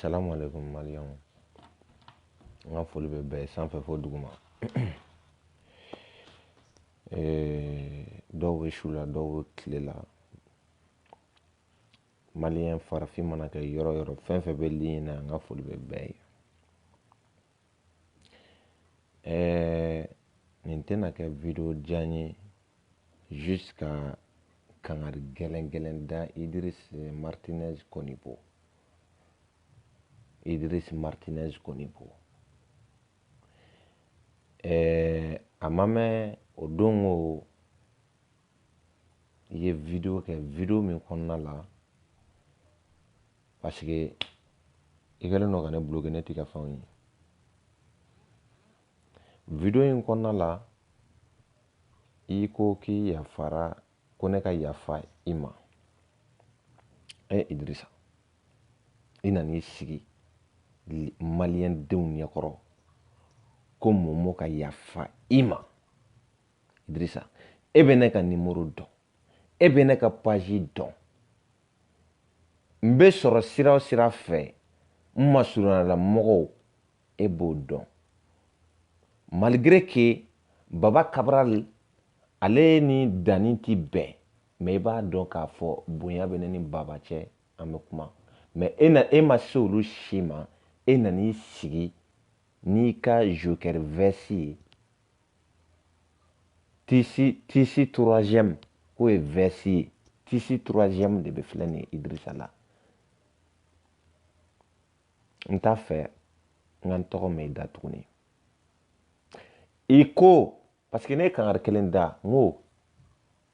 salamu alaikum maliyɛnw n ka foli bɛ bɛɛ sanfɛ fo duguma dɔw bɛ su la dɔw bɛ tile la Maliyɛn farafin mana kɛ yɔrɔ yɔrɔ fɛn fɛn bɛ ligne na an ka foli bɛ bɛɛ ye ɛɛ nin tɛna kɛ video jan ye juste ka kangari gɛlɛn gɛlɛn da Idris Martinez Konibo Idris Martinez Konibo ɛɛ a ma mɛn o don ko i ye video kɛ video min kɔnɔna la parce que i kɛlen don ka ne bloquer ne t'i ka fɛnw ye video min kɔnɔna la i ko k'i yafara ko ne ka yafa i ma e Idirisa i nan'i sigi maliyɛn denw ɲɛkɔrɔ ko Momo ka yafa i ma Idrissa e bɛ ne ka nimoro dɔn e bɛ ne ka page dɔn n bɛ sɔrɔ sira o sira fɛ n masurunyala mɔgɔw e b'o dɔn malgré que Baba Kabral ale ni danni ti bɛn mais i b'a dɔn k'a fɔ bonya bɛ ne ni Baba cɛ an bɛ kuma mais e na e ma se olu si ma e nan'i sigi n'i ka joker veste ye tissu tissu troisième k'o ye veste ye tissu troisième de bɛ filɛ nin ye Idirisa la n t'a fɛ n ka n tɔgɔ mɛn i da tuguni i ko parce que ne ye kangari kelen da n ko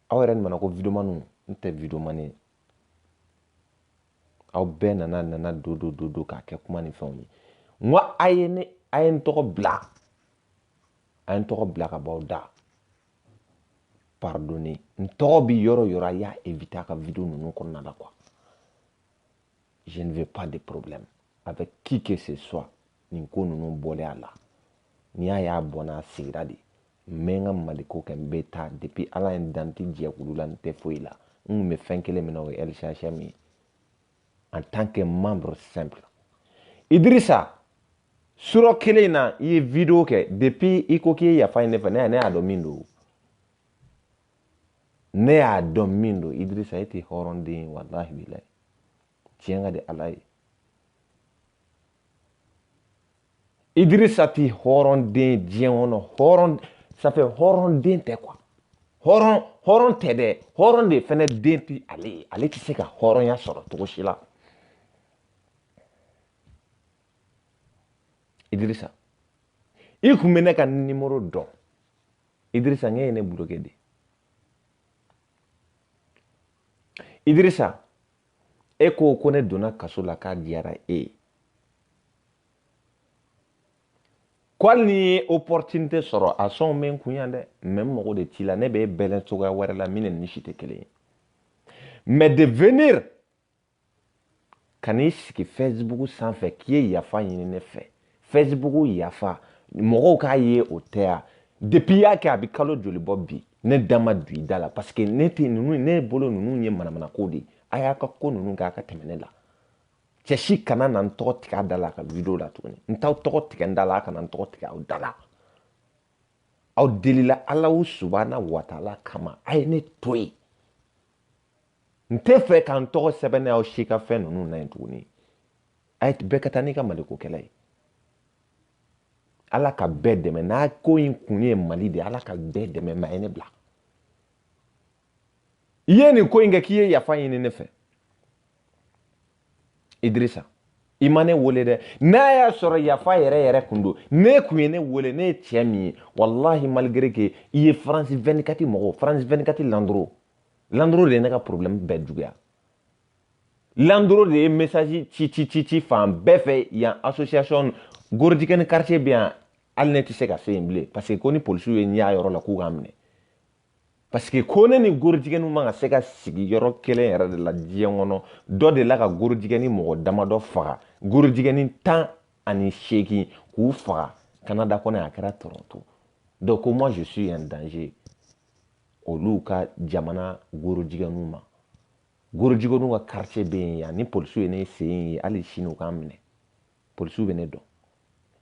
aw yɛrɛ nana ko videomaniw n tɛ videomani ye aw bɛɛ nana nana do do do do k'a kɛ kuma ni fɛnw ye n ko a ye ne a ye n tɔgɔ bila a ye n tɔgɔ bila ka b'aw da pardonne n tɔgɔ bi yɔrɔ yɔrɔ a y'a éviter a ka video ninnu kɔnɔna la quoi je ne veux pas de problème avec qui que ce soit nin ko ninnu bɔlen a la n'i y'a y'a bɔnna a sigira de n bɛ n ka maliko kɛ n bɛ taa depuis Ala ye n dan n tɛ jɛkulu la n tɛ foyi la n tun bɛ fɛn kelen min na o ye lchm ye en tant que membre simple Idrissa sura kelen na i ye video kɛ depuis i ko k'i ye yafa ɲini ne fɛ ne ne y'a dɔn min don ne y'a dɔn min don Idrissa e tɛ hɔrɔnden ye walahi bilahi tiɲɛ ka di Ala ye idirisa ti hɔrɔn den diɲɛ kɔnɔ hɔrɔn safɛ hɔrɔn den tɛ quoi hɔrɔn hɔrɔn tɛ dɛ hɔrɔn den fɛnɛ de ti ale ye ale tɛ se ka hɔrɔnya sɔrɔ cogo si la idirisa i kun bɛ ne ka nimoro dɔn idirisa nk'e ye ne buloke de idirisa e ko ko ne donna kaso la k'a diyara e ye ko hali n'i ye opportunité sɔrɔ a sɔn bɛ n kun yan dɛ mais n mago de t'i la ne bɛ bɛlɛn cogoya wɛrɛ la min ni si tɛ kelen ye mais de venir ka n'i sigi facebook sanfɛ k'i ye yafa ɲini ne fɛ facebook yafa mɔgɔw k'a ye o tɛ ya depuis i y'a kɛ a bɛ kalo joli bɔ bi ne da ma don i da la parce que ne tɛ ninnu ne bolo ninnu ye manamanako de ye a y'a ka ko ninnu kɛ a ka tɛmɛ ne la cɛ si kana na n tɔgɔ tigɛ a da la ka video la tuguni n t'aw tɔgɔ tigɛ n da la a kana n tɔgɔ tigɛ aw da la aw delila ala o subahana wataala kama a ye ne to yen n t'a fɛ ka n tɔgɔ sɛbɛnɛ aw si ka fɛn ninnu na yen tuguni a ye bɛɛ ka taa n'i ka malikokɛla ye ala ka bɛɛ dɛmɛ n'a ko in kun ye mali de ye ala ka bɛɛ dɛmɛ mais a ye ne bila i ye nin ko in kɛ k'i ye yafa ɲini ne fɛ idirisa i ma ne wele dɛ n'a y'a sɔrɔ yafa yɛrɛ yɛrɛ kun don e kun ye ne wele ne ye cɛ min ye walahi malgré que i ye france 24 mɔgɔw france 24 landoro landoro de ye ne ka problème bɛɛ juguya landoro de ye message ci ci ci ci fan bɛɛ fɛ yan association gorojigɛni quartier bɛ yan hali ne tɛ se ka se yen bilen parce que ko ni polisiw ye n y'a yɔrɔ la k'u ka n minɛ parce que ko ne ni gorojigɛniw man ka se ka sigi yɔrɔ kelen yɛrɛ de la diɲɛ kɔnɔ dɔ delila ka gorojigɛni mɔgɔ damadɔ faga gorojigɛni tan ani seegin k'u faga kanada kɔnɔ a kɛra toronto donc ko moi je suis un danger olu ka jamana gorojigɛniw ma gorojigɛniw ka quartier bɛ yen yan ni polisiw ye ne sen ye hali sini u ka n minɛ polisiw bɛ ne dɔn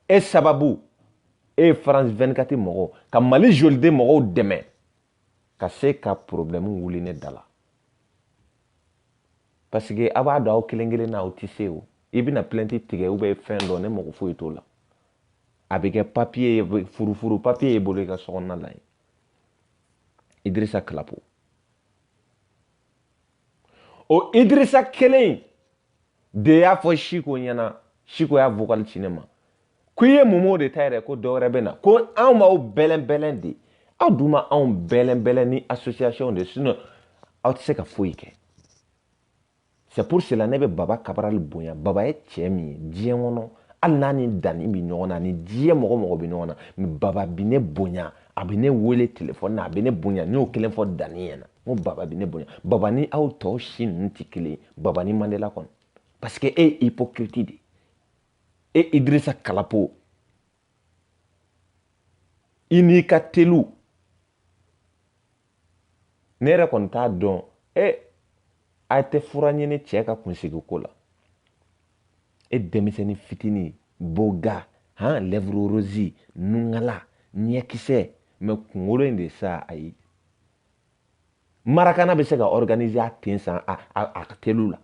e sababu e ye france 24 mɔgɔw ka mali joliden mɔgɔw dɛmɛ ka se ka problɛmu wuli ne da la parce que a b'a dɔn aw kelen kelen na aw tɛ se o i bɛna plainte tigɛ ou bien fɛn dɔ ne mago foyi t'o la a bɛ kɛ papiye ye furufuru papiye ye i bolo i ka sokɔnɔna la yen idirisa kalapo o idirisa kelen in de y'a fɔ siko ɲɛna siko y'a vocal ci ne ma ko i ye momo de ta yɛrɛ ko dɔwɛrɛ bɛ na ko anw b'aw bɛlɛn bɛlɛn de aw dun ma anw bɛlɛn bɛlɛn ni association de sinon aw tɛ se ka foyi kɛ c'est pour cela ne bɛ baba kabarali bonya baba ye cɛ min ye diɲɛ kɔnɔ hali n'a ni danni bɛ ɲɔgɔn na ni diɲɛ mɔgɔ mɔgɔ bɛ ɲɔgɔn na mais baba bi ne bonya a bɛ ne wele telefɔni na a bɛ ne bonya n y'o kelen fɔ danni ɲɛna n ko baba bɛ ne bonya baba ni aw tɔw si ninnu tɛ kelen ye baba ni mandela kɔni parce que e ye hypocrite de ye e idirisa kalapo i n'i ka tɛlu ne yɛrɛ kɔni t'a dɔn e a tɛ fura ɲini cɛ ka kunsigi ko la e denmisɛnnin fitinin beau gars han lèvre rose nungala ɲɛkisɛ mais kunkolo in de sa ayi marakana bɛ se ka organiser a ten san a a a ka tɛlu la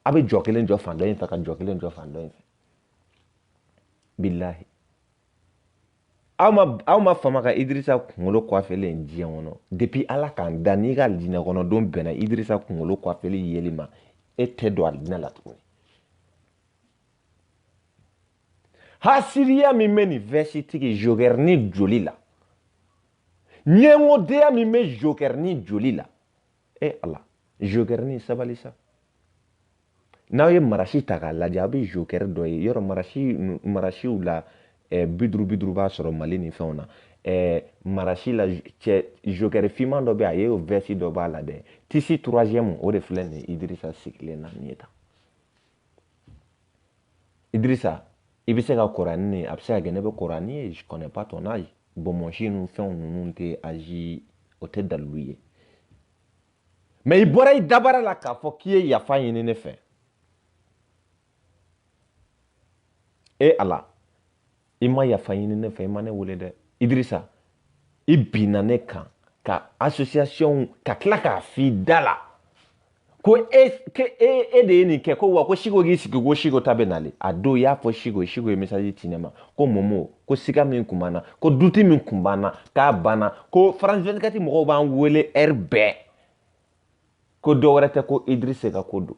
a bɛ jɔ kelen jɔ fan dɔ in fɛ ka jɔ kelen jɔ fan dɔ in fɛ bilahi aw ma aw ma fama ka Idrissa kunkolo kwafelen ye diɲɛ kɔnɔ depuis Ala k'an da n'i ka alijinɛ kɔnɔ don bɛnna Idrissa kunkolo kwafelen yeli ma e tɛ don alijinɛ la tuguni hasiriya min bɛ nin vɛsitigi jokɛrinin joli la ɲɛngodenya min bɛ jokɛrinin joli la e ala zokɛrɛnin sabali sa n'aw ye marasi ta k'a lajɛ aw bɛ zokɛrɛ dɔ ye yɔrɔ marasi marasiw la eh, bi duuru bi duuru b'a sɔrɔ mali ni fɛnw na eh, marasi la cɛ zokɛrɛ fiman dɔ bɛ yen o vɛsi dɔ b'a la dɛ tissu troisième o de filɛ nin ye idirisa sigilen na nin ye tan idirisa i bɛ se ka kɔrɔ ni ne a bɛ se ka kɛ ne bɛ kɔrɔ n'i ye je connais pas ton âge bonbonsi ninnu fɛnw ninnu tɛ âge o tɛ dalilu ye mais i bɔra i dabara la k'a fɔ k'i ye yafa ɲini ne fɛ e ala i ma yafa ɲini ne fɛ i ma ne wele dɛ idirisa i binna ne kan ka association ka tila k'a f'i da la ko e ke e e de ye nin kɛ ko wa ko siko k'i sigi ko siko ta bɛ nale a don i y'a fɔ siko siko ye message ci ne ma ko momo ko siga min kun b'an na ko doute min kun b'an na k'a banna ko france 24 mɔgɔw b'an wele heure bɛɛ ko dɔ wɛrɛ tɛ ko idirisa ka ko don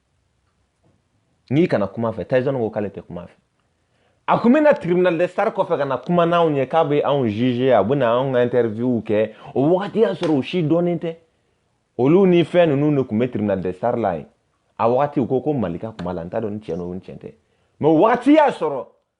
n'i kana kuma fɛ tayizɔni ko k'ale tɛ kuma fɛ a kun bɛna tribunal de star kɔfɛ ka na kuma n'anw ye k'a bɛ anw juger a bɛna anw ka interview kɛ o wagati y'a sɔrɔ u si dɔnnen tɛ olu ni fɛn ninnu de tun bɛ tribunal de star la yen a wagati u ko ko malika kuma la n t'a dɔn ni tiɲɛ don ni tiɲɛ tɛ mais o wagati y'a sɔrɔ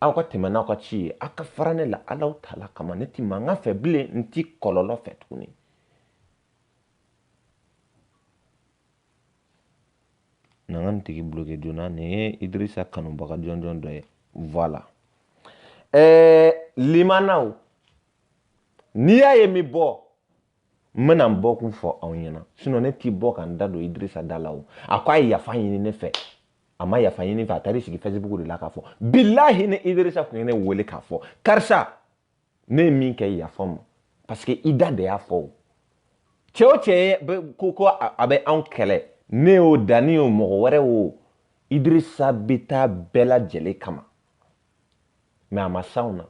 aw ka tɛmɛ n'aw ka ci ye aw ka fara ne la alawutaala kama ne ti mankan fɛ bilen n ti kɔlɔlɔ fɛ tuguni na ka nin tigi bloke joona nin ye idirisa kanubaga jɔnjɔn dɔ ye voilà ɛɛ limanaw n'i y'a ye n bɛ bɔ n bɛna n bɔkun fɔ aw ɲɛna sinɔn ne ti bɔ ka n da don idirisa da la o a ko a ye yafa ɲini ne fɛ a ma yafa ɲini fɛ a taar'i sigi fɛsibuku de la k'a fɔ bilahi ni idirisa tun ye ne wele k'a fɔ karisa ne ye min kɛ yafa ma parce que i da de y'a fɔ o cɛ o cɛ ye ko ko a bɛ anw kɛlɛ ne o danni o mɔgɔ wɛrɛ o idirisa bɛ taa bɛɛ lajɛlen kama mɛ a ma s'anw na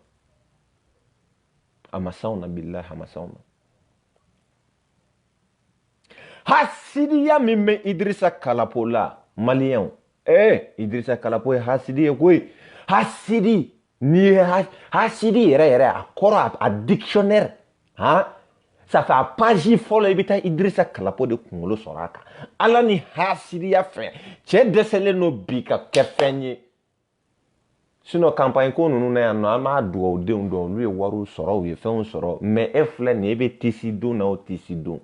a ma s'anw na bilahi a ma s'anw na hasidiya min bɛ idirisa kalapo la maliyɛnw ee eh, idirisa kalapo ye hasidi ye koyi hasidi n'i ye hasidi yɛrɛ yɛrɛ a kɔrɔ a dictionnaire han ça c'est a page fɔlɔ i bɛ taa idirisa kalapo de kunkolo sɔrɔ a kan ala ni hasidiya fɛ cɛ dɛsɛlen don bi ka kɛ fɛn ye sinɔn kanpaɲi ko ninnu na yan nɔ an b'a dugawudenw dɔn olu ye wariw sɔrɔ u ye fɛnw sɔrɔ mɛ e filɛ nin e bɛ tisi don na o tisi don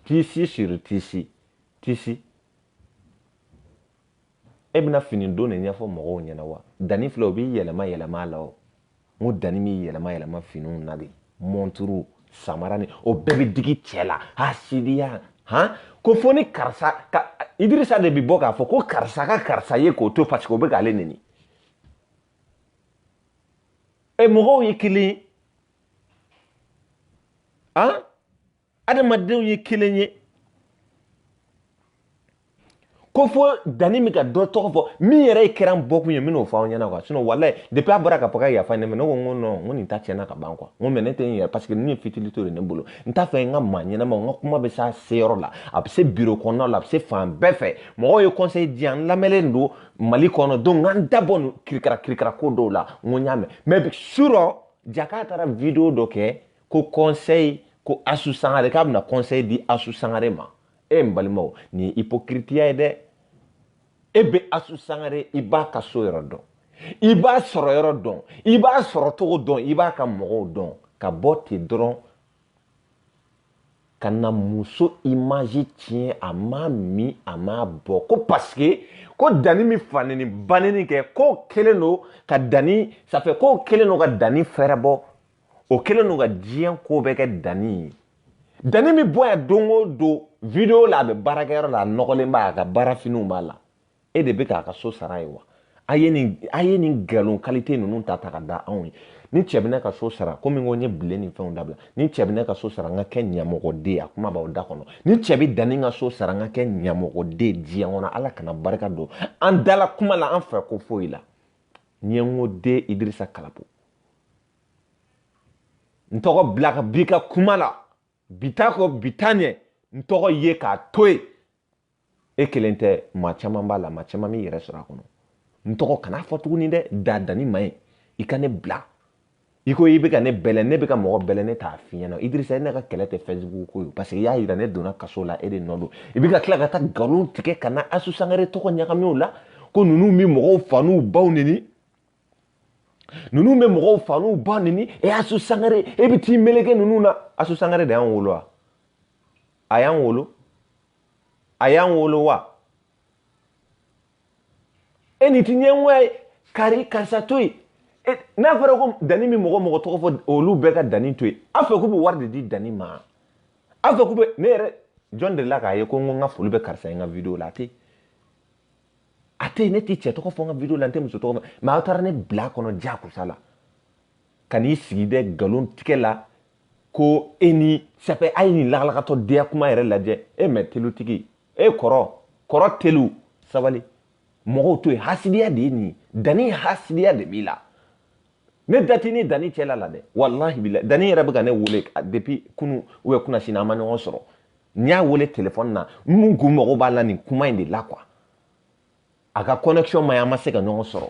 tisi siri tisi tisi e bɛna fini don de ɲɛfɔ mɔgɔw ɲɛna wa danni filɛ o b'i yɛlɛma yɛlɛma a la o n ko danni bɛ yɛlɛma yɛlɛma finiw na de mɔnturu samara ni o bɛɛ bɛ digi cɛ la hasidiya han ko fo ni karisa ka idirisa de bɛ bɔ k'a fɔ ko karisa ka karisa ye k'o to parce que o bɛ k'ale neni e mɔgɔw ye kelen ye han adamadenw ye kelen ye ko fo danni min ka dɔ tɔgɔ fɔ min yɛrɛ de kɛra n bɔkun ye n bɛn'o fɔ aw ɲɛna quoi sinɔn walayi depuis a bɔra ka fɔ ka yafa ne ma ne ko n ko nɔn n ko nin ta tiɲɛna ka ban quoi n ko mɛ ne tɛ n yɛrɛ parce que nin ye futilité de ne bolo n t'a fɛ n ka maa ɲɛnamaw n ka kuma bɛ s'a seyɔrɔ la a bɛ se biro kɔnɔnaw la a bɛ se fan bɛɛ fɛ mɔgɔw ye conseil di yan n lamɛnlen don mali kɔnɔ donc n ka n da bɔ nin kirikara kirikara ko dɔw la n ko n y'a mɛn mɛ surɔ jaka taara video dɔ kɛ ko conseil ko asu sangare k'a bɛna conseil di asu sangare ma e eh, n balimaw nin ye hypocritiya ye dɛ e bɛ asu sangare i b'a ka so yɔrɔ dɔn i b'a sɔrɔ yɔrɔ dɔn i b'a sɔrɔ cogo dɔn i b'a ka mɔgɔw dɔn ka bɔ ten dɔrɔn ka na muso imaji tiɲɛ a m'a min a m'a bɔ ko parce que ko danni min faneni baneni kɛ k'o kɛlen don ka danni safɛ k'o kɛlen don ka danni fɛɛrɛ bɔ o kɛlen don ka diɲɛ ko bɛɛ kɛ dani ye dani bɛ bɔ yan don o don video la a bɛ baarakɛyɔrɔ la a nɔgɔlen b'a a ka baara finiw b'a la e de bɛ k'a ka so sara ye wa a ye nin a ye nin nkalon kalite ninnu ta ta ka da anw ye ni cɛ bɛ ne ka so sara komi ko n ye bilen ni fɛnw dabila ni cɛ bɛ ne ka so sara n ka kɛ ɲɛmɔgɔden ye a kuma b'aw da kɔnɔ ni cɛ bɛ dani n ka so sara n ka kɛ ɲɛmɔgɔden diɲɛ kɔnɔ ala kana barika don an dala kuma la an fɛ ko foyi la ɲɛngoden idirisa kalapo n tɔgɔ bila ka b'i ka kuma la bi ta kɔ bi ta ɲɛ n tɔgɔ ye k'a to yen e kelen tɛ maa caman b'a la maa caman b'i yɛrɛ sɔrɔ a kɔnɔ n tɔgɔ kana fɔ tuguni dɛ dan dani ma yen i ka ne bila i ko i bɛ ka ne bɛlɛ ne bɛ ka mɔgɔ bɛlɛ ne t'a f'i ɲɛna idirisa e ne ka kɛlɛ tɛ fɛsibugu ko ye paseke i y'a yira ne donna kaso la e de nɔ don i bɛ ka tila ka taa nkalon tigɛ ka na asu sangare tɔgɔ ɲagami o la ko ninnu bɛ mɔgɔw fa n'u baw neni ninnu bɛ mɔgɔw fa n'u ba neni e y'asu sangare e bɛ t'i meleke ninnu na asu sangare de y'an wolo wa a y'an wolo a y'an wolo wa e nin tɛ ɲɛngoya ye kari karisa to yen e, n'a fɔra ko dani mana mɔgɔ mɔgɔ tɔgɔ fɔ olu bɛɛ ka dani to yen aw fɛ k'u bɛ wari de di dani ma aw fɛ k'u bɛ ne yɛrɛ jɔn delila k'a ye ko n ko n ka foli bɛ karisa ye n ka video la a tɛ yen a tɛ yen ne tɛ cɛ tɔgɔ fɔ n ka video la n tɛ muso tɔgɔ fɔ mɛ aw taara ne bila kɔnɔ jakosa la ka n'i sigi dɛ nkalon tigɛ la ko e ni sɛpɛ a ye nin lagalagatɔ deya kuma yɛrɛ lajɛ e mɛ telutigi e kɔrɔ kɔrɔ telu sabali mɔgɔw to yen hasidiya de ye nin ye dani hasidiya de b'i la ne da t'i ni dani cɛla la dɛ walahi bila dani yɛrɛ bɛ ka ne wele depuis kunu ou bien kunasini an ma ɲɔgɔn sɔrɔ n y'a wele telefɔni na n kun mago b'a la nin kuma in de la quoi a ka connexion man ɲi an ma se ka ɲɔgɔn sɔrɔ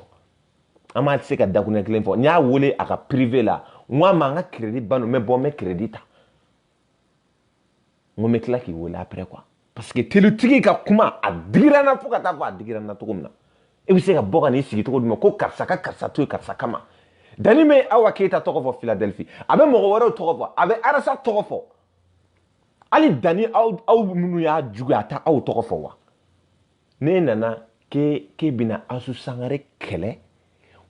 an ma se ka dakunɛ kelen fɔ n y'a wele a ka prive la n ko a ma n ka crédit bannen don n bɛ bɔ n bɛ crédit ta n ko n bɛ tila k'i wele après quoi parce que telutigi ka kuma a digira n na fo ka taa fɔ a digira n na cogo min na e bɛ se ka bɔ ka n'i sigi cogo di ma ko karisa ka karisa to yen karisa kama dani bɛ awa keyita tɔgɔ fɔ philadelphie a bɛ mɔgɔ wɛrɛw tɔgɔ fɔ a bɛ arasa tɔgɔ fɔ hali dani aw aw minnu y'a jugu a tɛ aw tɔgɔ fɔ wa ne nana k'e k'e bɛna asu sangare kɛlɛ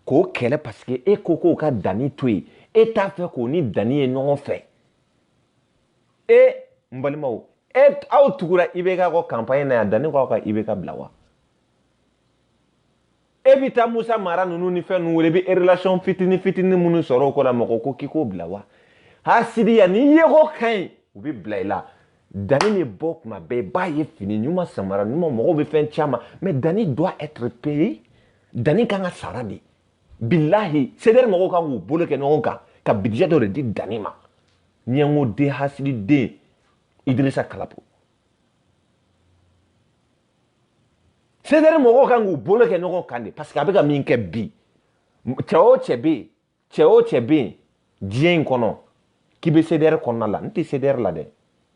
k'o kɛlɛ parce que e ko k'o ka dani to yen e t'a fɛ k'o ni dani ye ɲɔgɔn fɛ e n balimaw e aw tugura ibeka kɔ kanpaɲi na yan dani k'aw ka ibeka bila wa e bɛ taa musa mara ninnu ni fɛn ninnu wele i bɛ relation fitini fitini minnu sɔrɔ o ko la mɔgɔ ko k'i k'o bila wa hasidiya ni yeko ka ɲi u bɛ bila i la dani bɛ bɔ tuma bɛɛ i b'a ye fini ɲuman samara ɲuman mɔgɔw bɛ fɛn caman mɛ dani doit être payé dani kan ka sara de bilahi sedɛri mɔgɔw kan k'u bolo kɛ ɲɔgɔn kan ka bidijɛ dɔ de di danni ma ɲɛngo den hasidi den idirisa kalapo sedɛri mɔgɔw kan k'u bolo kɛ ɲɔgɔn kan dɛ parce que a bɛ ka min kɛ bi cɛ o cɛ bɛ yen cɛ o cɛ bɛ yen diɲɛ in kɔnɔ k'i bɛ CDR kɔnɔna la n tɛ CDR la dɛ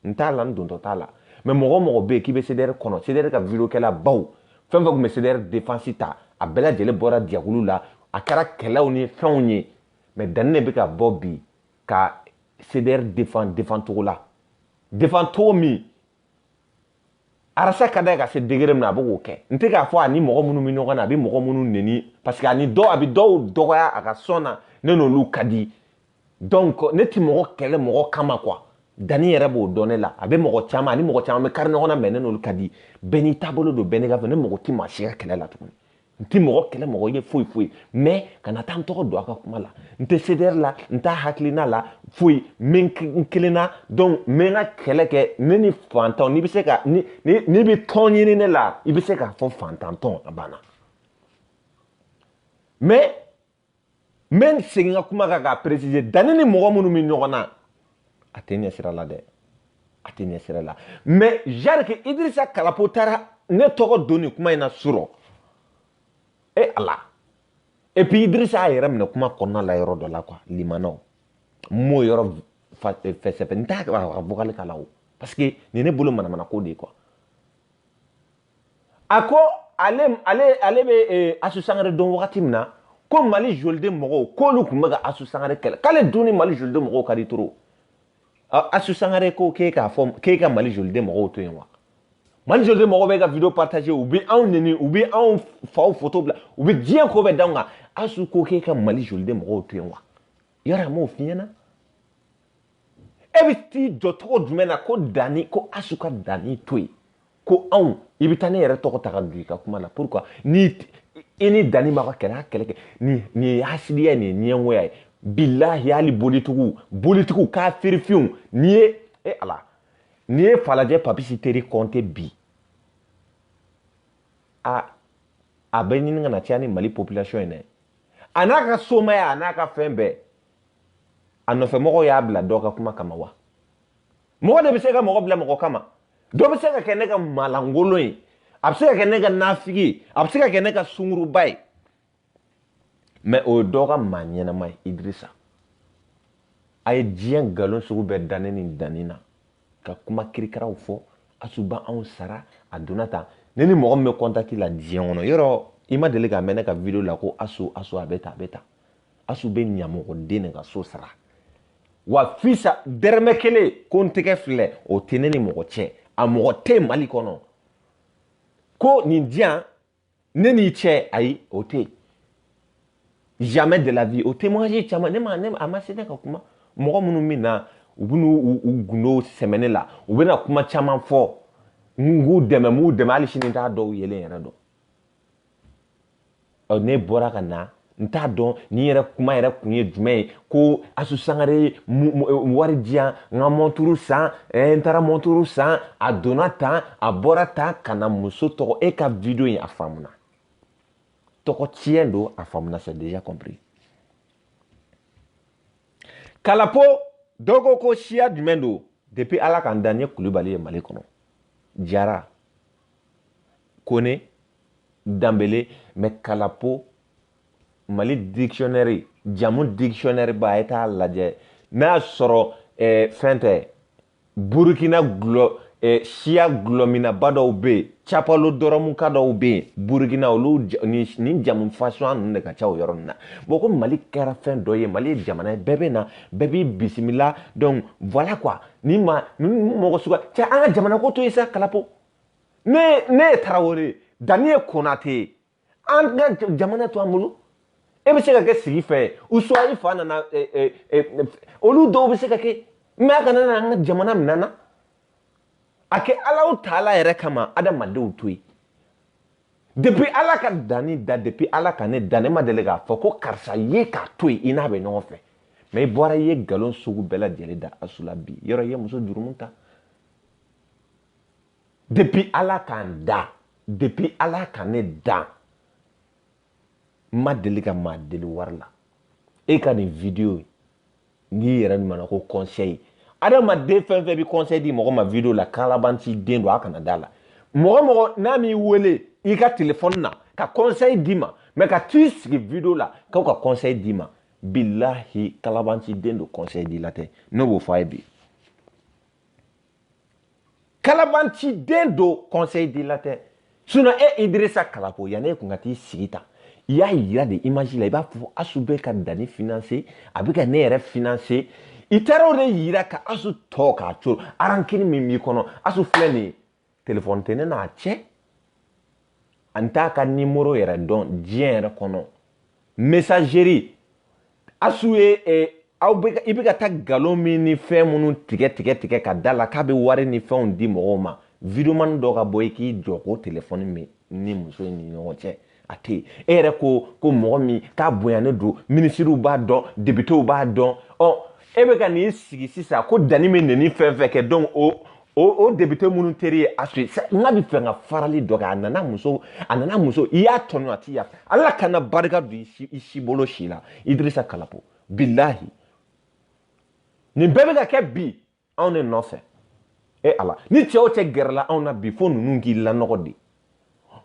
n t'a la n dontɔ t'a la mɛ mɔgɔ o mɔgɔ bɛ yen k'i bɛ CDR kɔnɔ CDR ka videokɛla baw fɛn o fɛn tun bɛ CDR defansi ta a bɛɛ lajɛlen bɔra jɛkulu la a kɛra kɛlɛw ni fɛnw ye mɛ danni de bɛ ka bɔ bi ka CDR defan defan cogo la defan cogo min arasa ka da ye ka se degere min na a bɛ k'o kɛ n tɛ k'a fɔ a ni mɔgɔ minnu bɛ ɲɔgɔn na a bɛ mɔgɔ minnu neni parce que a ni dɔw a bɛ dɔw dɔgɔya a ka sɔn na ne n'olu ka di donc ne tɛ mɔgɔ kɛlɛ mɔgɔ kama quoi danni yɛrɛ b'o dɔn ne la a bɛ mɔgɔ caman a ni mɔgɔ caman bɛ kari ɲɔgɔn na mɛ ne n'olu ka di bɛɛ n'i taabolo don bɛɛ n'i ka fɛ ne mɔgɔ tɛ maa si ka kɛlɛ la tuguni n tɛ mɔgɔ kɛlɛ mɔgɔ ye foyi foyi mɛ kana taa n tɔgɔ don a ka kuma la n tɛ CDR la n t'a hakilina la foyi n bɛ n kelenna donc n bɛ n ka kɛlɛ kɛ ne ni fantanw n'i bɛ se ka ni n'i bɛ tɔn ɲini ne la i bɛ se k'a fɔ fantantɔn a banna mɛ n bɛ n segin n ka kuma kan k'a peresize danni ni mɔgɔ minnu bɛ ɲɔgɔn na a tɛ ne sira la dɛ a tɛ ne sira la mɛ dire que idirisa kalapo taara ne tɔgɔ don nin kuma in na surɔ e ala et puis idirisa y'a yɛrɛ minɛ kuma kɔnɔna la yɔrɔ dɔ la quoi limanaw n m'o yɔrɔ fɛsɛfɛsɛ n t'a ka vocal k'a la o parce que nin ne bolo manamanako de ye quoi a ko ale ale ale bɛ eh, asu sangare dɔn wagati min na ko mali joliden mɔgɔw k'olu tun bɛ ka asu sangare kɛlɛ k'ale dun ni mali joliden mɔgɔw ka di trop asu sangare ko k'e k'a fɔ k'e ka mali joliden mɔgɔw to yen wa mali joliden mɔgɔw bɛ ka video partage u bɛ anw neni u bɛ anw faw foto bila u bɛ diɲɛ ko bɛɛ d'anw kan asu ko k'e ka mali joliden mɔgɔw to yen wa yɔrɔ a m'o f'i ɲɛna e bɛ t'i jɔ cogo jumɛn na ko danni ko asu ka danni to yen ko anw i bɛ taa ne yɛrɛ tɔgɔ ta ka don i ka kuma na pourquoi ni i ni danni ma ka kɛlɛ a kɛlɛ kɛ nin nin ye hasidiya ye nin ye ɲɛngoya ye bilahi hali bolitigiw bolitigiw ka sirifɛnw n'i ye e ala n'i ye falajɛ papisi teri kɔnte bi a a bɛ ɲini ka na caya ni mali population ye dɛ a n'a ka somaya a n'a ka fɛn bɛɛ a nɔfɛ mɔgɔw y'a bila dɔ ka kuma kama wa mɔgɔ de bɛ se ka mɔgɔ bila mɔgɔ kama dɔ bɛ se ka kɛ ne ka maalankolon ye a bɛ se ka kɛ ne ka nafigi ye a bɛ se ka kɛ ne ka sunguruba ye mɛ o ye dɔ ka maa ɲɛnama ye idirisa a ye diɲɛ nkalon sugu bɛɛ da ne ne danni na ka kuma kirikaraw fɔ asu b'anw sara a donna tan ne ni mɔgɔ min bɛ kɔntati la diɲɛ kɔnɔ yɔrɔ i ma deli k'a mɛn ne ka video la ko asu asu a bɛ tan a bɛ tan asu bɛ ɲamɔgɔden de ka so sara wa fisa dɛrɛmɛ kelen ko n tɛgɛ filɛ o tɛ ne ni mɔgɔ cɛ a mɔgɔ tɛ mali kɔnɔ ko nin di yan ne n'i cɛ ayi o tɛ jamais de la vie o témoignage caman ne ma ne a ma se ne ka kuma mɔgɔ minnu bɛ na u bɛ n'u u gundo sɛmɛ ne la u bɛna kuma caman fɔ n k'u dɛmɛ n b'u dɛmɛ hali sini n t'a dɔw yelen yɛrɛ dɔn ne bɔra ka na n t'a dɔn nin yɛrɛ kuma yɛrɛ kun ye jumɛn ye ko asu sangare ye wari di yan n ka mɔnturu san n taara mɔnturu san a donna tan a bɔra tan ka na muso tɔgɔ e ka video in a faamuna tɔgɔ tiɲɛ don a faamuna c'est déjà compris kalapo dɔw ko ko siya jumɛn don depuis ala ka n da n ye kulubali ye mali kɔnɔ jara kone danbele mɛ kalapo mali dictionnaire jamu dictionnaire ba a ye t'a lajɛ n'a y'a sɔrɔ eh, fɛn tɛ burukina gulɔ eh, siya gulɔminnaba dɔw bɛ yen capalo dɔrɔmuka dɔw bɛ yen burukina olu nin jamu fasuya ninnu de ka ca o yɔrɔ ninnu na bɔn ko mali kɛra fɛn dɔ ye mali ye jamana ye bɛɛ bɛ na bɛɛ b'i bisimila donc voilà quoi ni ma ni mɔgɔ suga cɛ an ka jamana ko to yen sa kalapo ne ne ye tarawele danni ye konate ye an ka jamana to an bolo e bɛ se ka kɛ sigifɛ ye ou soit i fa nana olu dɔw bɛ se ka kɛ mɛ a kana na an ka jamana minɛ an na a kɛ alahu taala yɛrɛ kama adamadenw to yen depuis ala ka danni da depuis ala ka ne da ne ma deli k'a fɔ ko karisa ye k'a to yen i n'a bɛ ɲɔgɔn fɛ mɛ i bɔra i ye nkalon sugu bɛɛ lajɛlen da asu la bi yɔrɔ i ye muso jurumu ta depuis ala k'an da depuis ala ka ne dan n ma deli ka maa deli wari la e ka nin video n'i yɛrɛ ɲumanna ko conseil adamaden fɛn fɛn bɛ conseil di mɔgɔ ma video la kalabanci den don a kana da a la mɔgɔ mɔgɔ n'a m'i wele i ka telefɔni na ka conseil d'i ma mɛ ka t'i sigi video la k'aw ka conseil d'i ma bilahi kalabanci den don conseil dila tɛ ne b'o fɔ a ye bi kalabantiden don conseil dila tɛ sinon e idirisa kalapo yanni e kun ka t'i sigi tan i y'a yira de image la i b'a fɔ asu bɛ ka dani financer a bɛ ka ne yɛrɛ financer i taara o de yira ka asu tɔ k'a tɔɔrɔ rancune min b'i kɔnɔ asu filɛ nin ye telefɔni tɛ ne n'a cɛ an t'a ka nimoro yɛrɛ dɔn diɲɛ yɛrɛ kɔnɔ mesazeri asu ye eh, aw bɛ i bɛ ka taa nkalon min ni fɛn minnu tigɛ tigɛ tigɛ ka d'a la k'a bɛ wari ni fɛnw di mɔgɔw ma videomani dɔ ka bɔ i k'i jɔ ko telefɔni min ni muso in ni ɲɔgɔn cɛ a tɛ yen e yɛrɛ ko ko mɔgɔ min k'a bonyalen don minisiriw b'a dɔn depitew b'a dɔn ɔ e bɛ ka n'i sigi sisan ko dani bɛ nɛni fɛn fɛn kɛ donc o o o depite minnu teri ye asu n'a bɛ fɛ ka farali dɔ kɛ a nana muso a nana muso i y'a tɔɲɔ a t'i yafa ala kana barika don i si bolo si la idirisa kalapo bilahi nin bɛɛ bɛ ka kɛ bi anw de nɔfɛ e ala ni cɛ o cɛ gɛrɛla anw na bi fo ninnu k'i lanɔgɔ de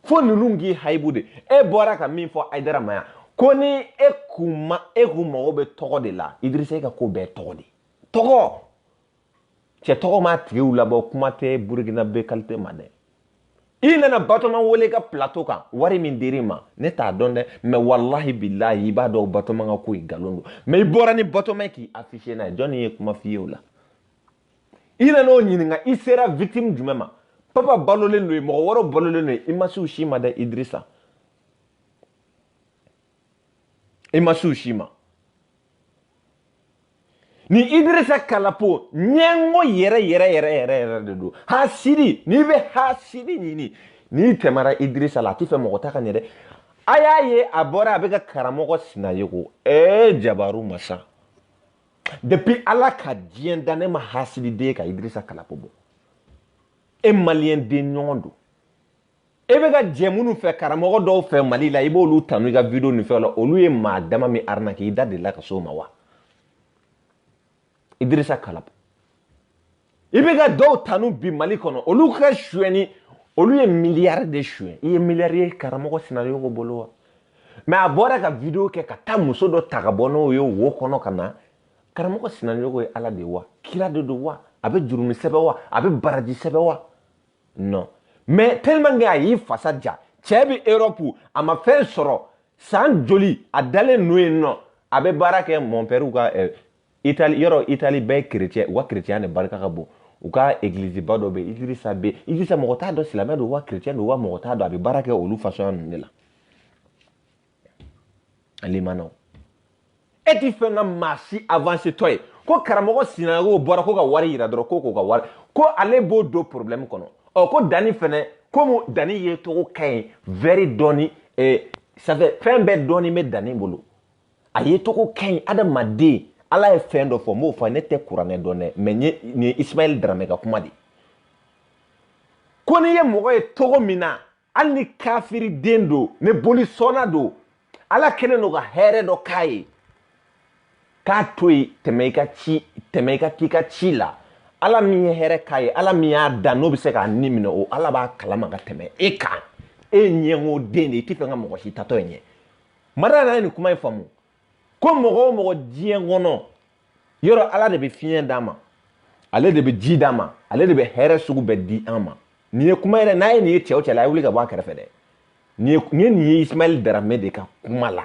fo ninnu k'i hayibu de e bɔra ka min fɔ ayidara ma yan ko ni e kun ma e kun mago bɛ tɔgɔ de la idirisa e ka ko bɛɛ tɔgɔ de tɔgɔ cɛ tɔgɔmatigiw labɔ kuma tɛ burukinabɛ kalite ma dɛ i nana batoma wele ka plateau kan wari min dir'i ma ne t'a dɔn dɛ mais walahi bilahi i b'a dɔn batoma ka ko ye nkalon don mais i bɔra ni batoma ye k'i affiche n'a ye jɔni ye kuma f'i ye o la i nana o ɲininka i sera victime jumɛn ma papa balolen don yen mɔgɔ wɔɔrɔ balolen don yen i ma s'u ma dɛ idirisa i ma s'u si ma ni idirisa kalapo ɲɛngo yɛrɛ yɛrɛ yɛrɛ yɛrɛ yɛrɛ de don hasidi n'i bɛ hasidi ɲini n'i tɛmɛra idirisa la a tɛ fɛ mɔgɔ ta ka ɲɛ dɛ a y'a ye a bɔra a bɛ ka karamɔgɔ sinayogo ee jabaru masa depuis ala ka diɲɛ da ne ma hasididen ye ka idirisa kalapo bɔ e maliyɛn den ɲɔgɔn don e bɛ ka jɛ minnu fɛ karamɔgɔ dɔw fɛ mali la i b'olu tanu i ka video ni fɛnw la olu ye maa dama min arnaquer i da delila ka s'o ma wa idirisa kalapo i bɛ ka dɔw tanu bi mali kɔnɔ olu ka suɲɛni olu ye miliyari de suɲɛ i ye miliyari ye karamɔgɔ sinayogo bolo wa mais a bɔra ka video kɛ ka taa muso dɔ ta ka bɔ n'o ye wo kɔnɔ ka na karamɔgɔ sinayogo ye ala de wa kira de don wa a bɛ jurumu sɛbɛn wa a bɛ baraji sɛbɛn wa non mais tellement a y'i fasa ja cɛ bɛ europe a ma fɛn sɔrɔ san joli a dalen n'o ye non a bɛ baara kɛ mɔnpɛriw ka eh, itali yɔrɔ itali bɛɛ ye kerecɛn u ka kerecɛnya de barika ka bon u ka egiliziba dɔ bɛ yen idirisa bɛ idirisa mɔgɔ t'a dɔn silamɛ don wa kerecɛn don wa mɔgɔ t'a dɔn a bɛ baara kɛ olu fasɔnya ninnu de la ale ma nɔgɔn e ti fɛ ka maa si avancetɔ ye ko karamɔgɔ sinago bɔra ko ka wari yira dɔrɔn ko k'o ka wari ko ale b'o don problème kɔnɔ ɔ ko dani fɛnɛ komi dani yecogo ka ɲi vɛri dɔɔni eh, safɛ fɛn bɛɛ dɔɔni bɛ dani bolo a yecogo ka ɲi adamaden ala ye fɛn dɔ fɔ n b'o fɔ ne tɛ kuranɛ dɔn dɛ mɛ nin ye isimayɛli daramɛ ka kuma de ko n'i ye mɔgɔ ye cogo min na hali ni kafiri den don ni bolisɔnna don ala kɛlen don ka hɛrɛ dɔ k'a ye k'a to yen tɛmɛ i ka ci tɛmɛ i ka k'i ka ci la ala min ye hɛrɛ k'a ye ala min y'a da n'o bɛ se k'a ni minɛ o ala b'a kalama ka tɛmɛ e kan e ɲɛngo den de i tɛ fɛ ka mɔgɔ si taatɔ ɲɛ ye mada yɛrɛ ye nin kuma in faamu ko mɔgɔ o mɔgɔ diɲɛ kɔnɔ yɔrɔ ala de bɛ fiɲɛ d'a ma ale de bɛ ji d'a ma ale de bɛ hɛrɛ sugu bɛɛ di an ma nin ye kuma yɛrɛ n'a ye nin ye cɛ o cɛ la a ye wuli ka bɔ a kɛrɛfɛ dɛ nin ye nin ye nin ye ismaɛli daramɛ de ka kuma la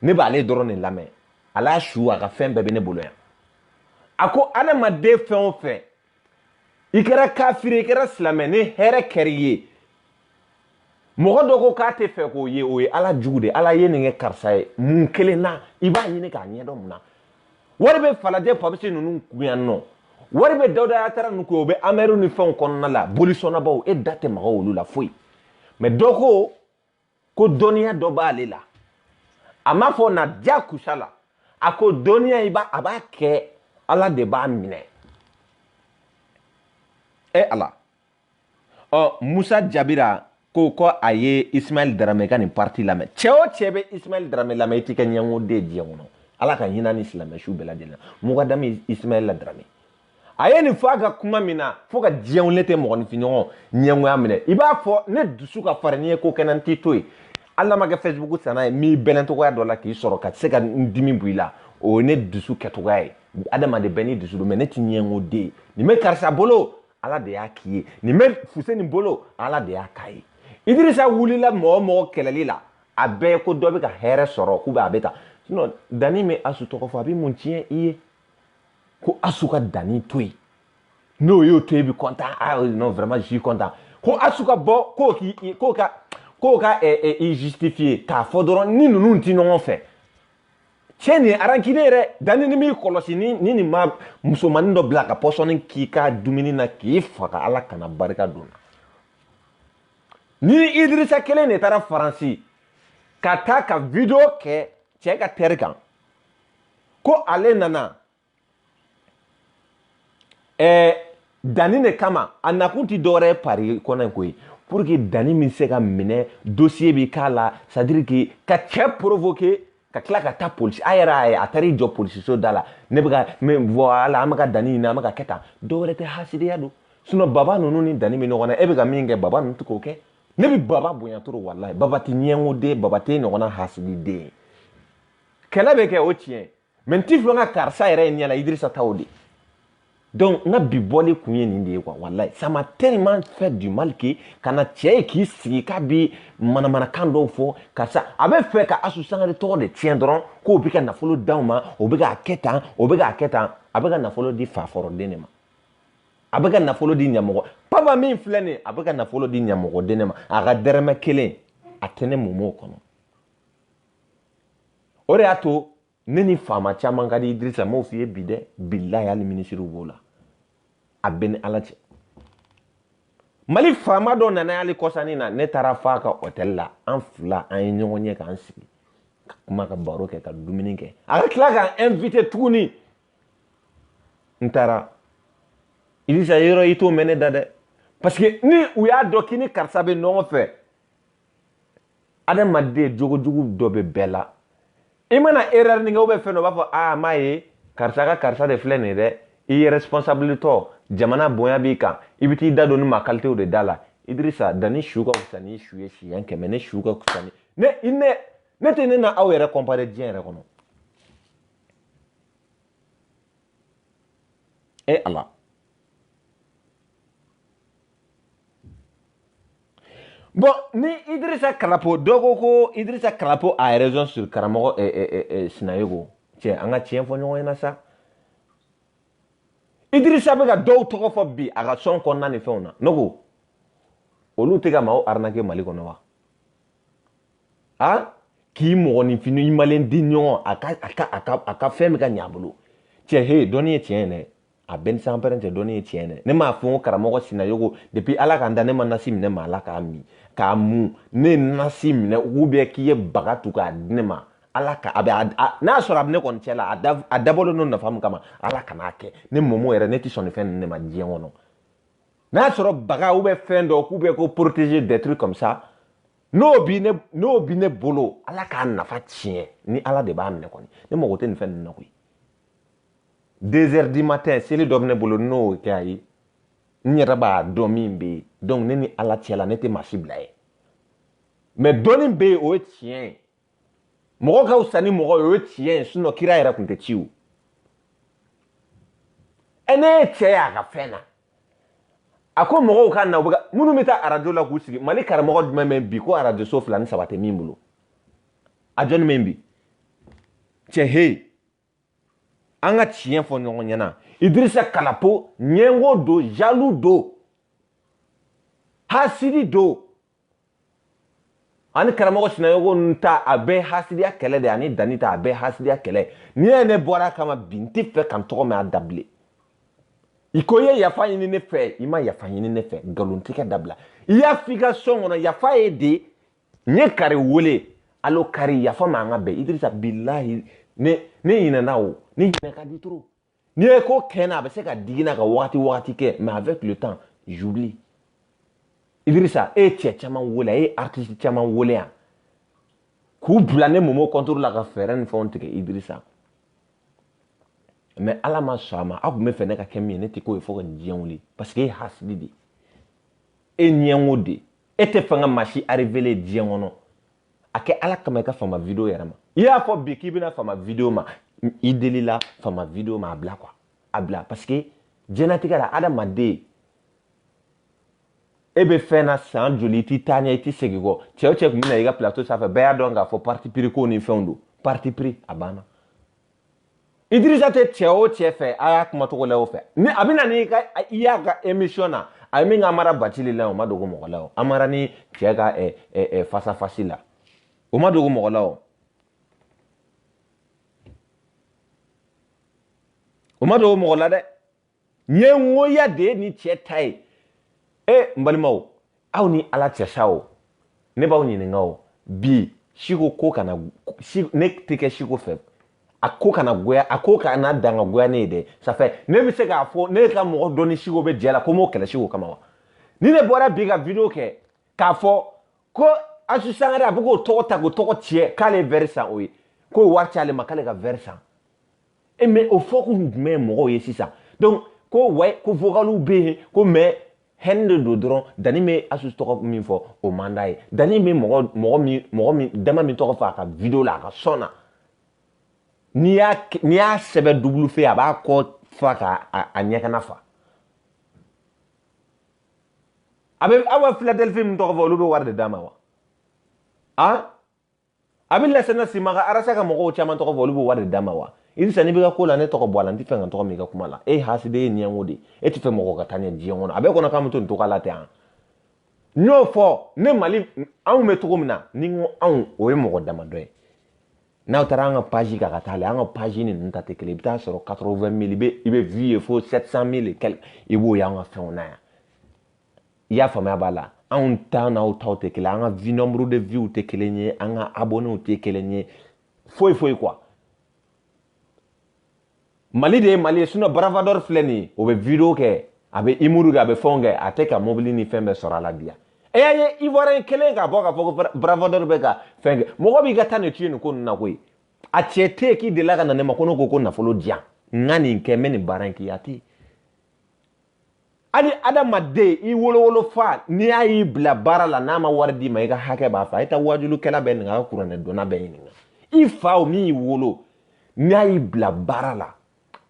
ne b'ale dɔrɔn de lamɛn ala su a ka fɛn bɛɛ bɛ ne bolo yan a ko adamaden fɛn o fɛn i kɛra kafiri i kɛra silamɛ ni hɛrɛ kɛra i ye mɔgɔ dɔ ko k'a tɛ fɛ k'o ye o ye ala jugu de ala ye nin kɛ karisa ye mun kelen na i b'a ɲini k'a ɲɛdɔn mun na wari bɛ falajɛ papisi ninnu kun yan nɔ wari bɛ dawuda yatara ninnu kun o bɛ amɛriw ni fɛnw kɔnɔna la bolisɔnnabaw e da tɛ maga olu la foyi mɛ dɔ ko ko dɔnniya dɔ b'ale la a m'a fɔ na diyakusa la a ko dɔnniya i b'a a b'a kɛ ala de b'a minɛ e ala ɔ musa jabira ko ko a ye ismaɛl daramɛ ka nin parti lamɛn cɛ o cɛ bɛ ismaɛl daramɛ lamɛn i tɛ kɛ ɲɛngoden diɲɛ kɔnɔ ala ka hinɛ a ni silamɛ su bɛɛ lajɛlen na mukadami ismaɛl daramɛ a ye nin fɔ a ka kuma min na fo ka di n ye ne tɛ mɔgɔninfinɲɔgɔn ɲɛngoya minɛ i b'a fɔ ne dusu ka farin n'i ye ko kɛ n na n t'i to yen hali n'a ma kɛ fɛsibuku sanna ye n'i bɛnna cogoya dɔ la k'i sɔrɔ ka se ka n dimi bɔ i la o ye ne dusu kɛcogoya ye adamaden bɛɛ n'i dusu don mɛ ne ti ɲɛngo den ye nin bɛ karisa bolo ala de y'a k'i ye nin bɛ fuseni bolo ala de y'a k'a ye idirisa wulila mɔgɔ o mɔgɔ kɛlɛli la a bɛɛ ko dɔ bɛ ka hɛrɛ sɔrɔ k'u bɛ a bɛ ta dani bɛ asu tɔgɔ fɔ a bɛ mun tiɲɛ i ye ko asu ka dani to yen n'o y'o to yen bi kɔntan ah non vraiment je kɔntan ko asu ka bɔ k'o k'i k'o ka k'o ka ɛ ɛ i justifier k'a fɔ dɔrɔn ni ninnu ti ɲɔgɔn fɛ cɛ nin arankine yɛrɛ dani n'i m'i kɔlɔsi ni ni nin ma musomanin dɔ bila ka pɔsɔni k'i ka dumuni na k'i faga ala kana barika don n na ni idirisa kelen de taara faransi ka taa ka video kɛ cɛ ka tɛri kan ko ale nana ɛɛ dani de kama a nakun ti dɔwɛrɛ ye Paris kɔnɔ in koyi pour que dani min se ka minɛ dossier bi k'a la c'est à dire que ka cɛ provoquer ka tila ka taa polisi a yɛrɛ a ye a taara i jɔ polisiso da la ne bɛ ka mɛ voilà an bɛ ka dani ɲini an bɛ ka kɛ tan dɔwɛrɛ tɛ hasidiya don sinon baba ninnu ni dani bɛ ɲɔgɔn na e bɛ ka min kɛ baba ninnu tɛ k'o kɛ ne bɛ baba bonya trop walayi baba tɛ ɲɛngoden baba tɛ ɲɔgɔnna hasididen kɛlɛ bɛ kɛ o tiɲɛ mais n t'a fɛ n ka karisa yɛrɛ ye ɲɛ la idirisa taw de donc n ka bi bɔli kun ye nin de ye quoi walayi ça m'a tellement fait du mal que ka na cɛ ye k'i sigi k'a bi manamanakan dɔw fɔ karisa a bɛ fɛ ka asu sangare tɔgɔ de tiɲɛ dɔrɔn k'o bɛ ka nafolo d'aw ma o bɛ k'a kɛ tan o bɛ k'a kɛ tan a bɛ ka nafolo di faforoden de ma a bɛ ka nafolo di ɲamɔgɔ papa min filɛ nin ye a bɛ ka nafolo di ɲamɔgɔden de ma a ka dɛrɛmɛ kelen a tɛ ne momo kɔnɔ o de y'a to ne ni faama caman ka di idirisa n b'o f'i ye bi dɛ bilahi hali minisiriw b'o la a bɛ ni ala cɛ mali faama dɔ nana yan kɔsa in na ne taara f'a ka hɔtɛli la an fila an ye ɲɔgɔn ye k'an sigi ka kuma ka baro kɛ ka dumuni kɛ a ka tila k'an inviter tuguni n taara idirisa yɔrɔ i t'o mɛn ne da dɛ parce que ni u y'a dɔn k'i ni karisa bɛ ɲɔgɔn fɛ adamaden jogojugu dɔ bɛ bɛɛ la i mana erreur nin kɛ ou bien fɛn dɔ b'a fɔ aa m'a ye karisa ka karisa de filɛ nin dɛ i ye responsable tɔ jamana bonya b'i kan i bɛ t'i da don ni maa kalitew de da la Idrissa dani su ka fisa ni su ye siɲɛ kɛmɛ ne su ka fisa ni ne ne ne tɛ ne n'aw yɛrɛ comparer diɲɛ yɛrɛ kɔnɔ e ala Bon ni idrisa kalapo dɔ ko ko idrisa kalapo a yɛrɛson su karamɔgɔ eh, eh, eh, sinayogo cɛ an ka tiɲɛ fɔ ɲɔgɔn ɲɛna sa idrisa bɛ ka dɔw tɔgɔ fɔ bi a ka sɔn kɔnɔna ni fɛnw na ne ko olu tɛ ka maaw arnaquer mali kɔnɔ wa a k'i mɔgɔninfin i malen di ɲɔgɔn a ka a ka a ka a ka fɛn bɛ ka ɲɛ a bolo cɛ he dɔnni ye tiɲɛ ye dɛ a bɛ n ni sanpɛrɛn cɛ dɔnni ye tiɲɛ dɛ ne m'a fɔ ko karamɔgɔ sinayogo depuis ala k'an da ne ma nasi minɛ maa la k'a min k'a mu ne ye nasi minɛ ou bien k'i ye baga tu k'a di ne ma ala ka a bɛ n'a y'a sɔrɔ a bɛ ne kɔni cɛ la a dabɔlen don nafa min kama ala kan'a kɛ ne momo yɛrɛ ne tɛ sɔn nin fɛn ninnu de ma diɲɛ kɔnɔ n'a y'a sɔrɔ baga ou bien fɛn dɔ k'u bɛ ko protéger des trucs comme ça n'o bi ne n'o bi ne bolo ala k'a nafa tiɲɛ ni ala de b'a minɛ kɔni ne mago tɛ nin fɛn ninnu na koyi deux heures du matin seli dɔ bɛ ne bolo n'o kɛ a ye n yɛrɛ b'a dɔn min bɛ yen donc ne ni ala cɛ la ne tɛ maa si bila yen mais dɔnni bɛ yen o ye tiɲɛ ye mɔgɔ ka fisa ni mɔgɔ ye o ye tiɲɛ ye sinon kira yɛrɛ tun tɛ ci o ɛ ne ye cɛ ye a ka fɛn na a ko mɔgɔw ka na u bɛ ka minnu bɛ taa arajo la k'u sigi mali karamɔgɔ jumɛn bɛ bi ko arajo so fila ni saba tɛ min bolo a jɔni bɛ bi cɛ hee an ka tiɲɛ fɔ ɲɔgɔn ɲɛna idirisa kalapo ɲɛngo don jaloux don hasidi don ani karamɔgɔ sinayɔgɔ ninnu ta a bɛɛ hasidiya kɛlɛ de ani dani ta a bɛɛ hasidiya kɛlɛ n'i ye ne bɔra a kama bi n tɛ fɛ ka n tɔgɔ mɛn a da bilen i ko i ye yafa ɲini ne fɛ i ma yafa ɲini ne fɛ nkalontigɛ dabila i y'a f'i ka sɔn kɔnɔ yafa ye de n ye kari wele alo kari yafa ma an ka bɛn idirisa bilahi ne ne ɲinɛna o ne ɲinɛ ka di trop n'i ye ko kɛ n na a bɛ se ka digi n na ka wagati wagati kɛ mais avec le temps j'oublie idirisa e ye cɛ caman wele a ye artiste caman wele yan k'u bila ne momo contour la ka fɛɛrɛ ni fɛnw tigɛ idirisa mais ala ma sɔn a ma aw tun bɛ fɛ ne ka kɛ min ye ne tɛ k'o ye fo ka nin diɲɛ wuli parce que e ye hasidi de ye e ɲɛngo de ye e tɛ fɛ ka maa si arrivelen diɲɛ kɔnɔ a kɛ ala kama i ka fama video yɛrɛ ma i y'a fɔ bi k'i bɛna fama video ma i delila fama video ma a bila quoi a bila parce que diɲɛlatigɛ la adamaden e bɛ fɛn na san joli i tɛ taa ɲɛ i tɛ segin kɔ cɛ o cɛ tun bɛ na i ka plateau sanfɛ bɛɛ y'a dɔn k'a fɔ parti pris ko ni fɛnw don parti pris a banna idirisa tɛ cɛ o cɛ fɛ a y'a kuma cogo la o fɛ ni a bɛna n'i ka i y'a ka emission na a ye min kɛ amara bacili la o ma dogo mɔgɔ la o amara ni cɛ ka ɛ ɛ ɛ face à face la o ma dogo mɔgɔ la o o ma dogo mɔgɔ la dɛ ɲɛngoya de ye nin cɛ ta ye e n balimaw aw ni ala cɛ sa o ne b'aw ɲininka o bi siko ko kana ne tɛ kɛ siko fɛ a ko kana goya a ko kana dan ka goya ne ye dɛ safɛ ne bɛ se k'a fɔ ne ka mɔgɔ dɔ ni siko bɛ jɛ la ko m'o kɛlɛ siko kama wa ni ne bɔra bi ka video kɛ k'a fɔ ko asu sangare a bɛ k'o tɔgɔ ta k'o tɔgɔ tiɲɛ k'ale ye vɛri san o ye k'o wari c'ale ma k'ale ka vɛri san e eh, mais o fɔ kun jumɛn mɔgɔw ye sisan donc ko wa ko vocaliw bɛ yen ko mais haine de don dɔrɔn dani bɛ asu tɔgɔ min fɔ o man d'a ye dani bɛ mɔgɔ mɔgɔ min mɔgɔ min dama min tɔgɔ fɔ a ka video la a ka sɔn na n'i y'a n'i y'a sɛbɛn dubulu fɛ a b'a kɔ fa ka a ɲɛkana fa a bɛ aw ka philadelphie min tɔgɔ fɔ olu bɛ wari de d'a ma wa a. a bɛ lasana simaga arasa ka mɔgɔw caman tɔgɔ fɔ olu b'o wari de d'a ma wa idrisa n'i bɛ ka ko la ne tɔgɔ bɔ a la n t'a fɛ ka n tɔgɔ mɛn i ka kuma la e hasidi ye ɲɛngo de e t'a fɛ mɔgɔ ka taa ɲɛ diɲɛ kɔnɔ a b'i kɔnɔ k'an bɛ to nin cogoya la ten n y'o fɔ ne mali anw bɛ cogo min na ni n ko anw o ye mɔgɔ damadɔ ye n'aw taara an ka paji kan ka taa lajɛ an ka paji ni ninnu ta tɛ kelen i bɛ taa sɔrɔ 80 mille i bɛ i bɛ vue ye fo 700 mille i b'o y'an ka fɛnw na yan i y'a faamuya b'a la anw ta n'aw taw tɛ kelen an ka vue nombre de vue tɛ kelen ye an ka abonnew tɛ kelen ye foyi foyi quoi mali de ye mali ye sinon bravador filɛ nin ye o bɛ video kɛ a bɛ humour kɛ a bɛ fɛnw kɛ a tɛ ka mobili ni fɛn bɛɛ sɔrɔ a la bi yan e y'a ye ivoirien kelen ka bɔ k'a fɔ ko bravador bɛ ka fɛn kɛ mɔgɔ b'i ka taa ne tuye nin ko ninnu na koyi a cɛ tɛ yen k'i delila ka na ne ma ko ne ko ko nafolo diyan n ka nin kɛ n bɛ nin baara in k'i a tɛ yen hali adamaden i wolowolo fa n'i y'a y'i bila baara la n'a ma wari d'i ma i ka hakɛ b'a fɛ a ye taa waajulikɛla bɛɛ ɲininka kuranɛ dɔnna bɛɛ ɲininka i fa o min y'i wolo n'a y'i bila baara la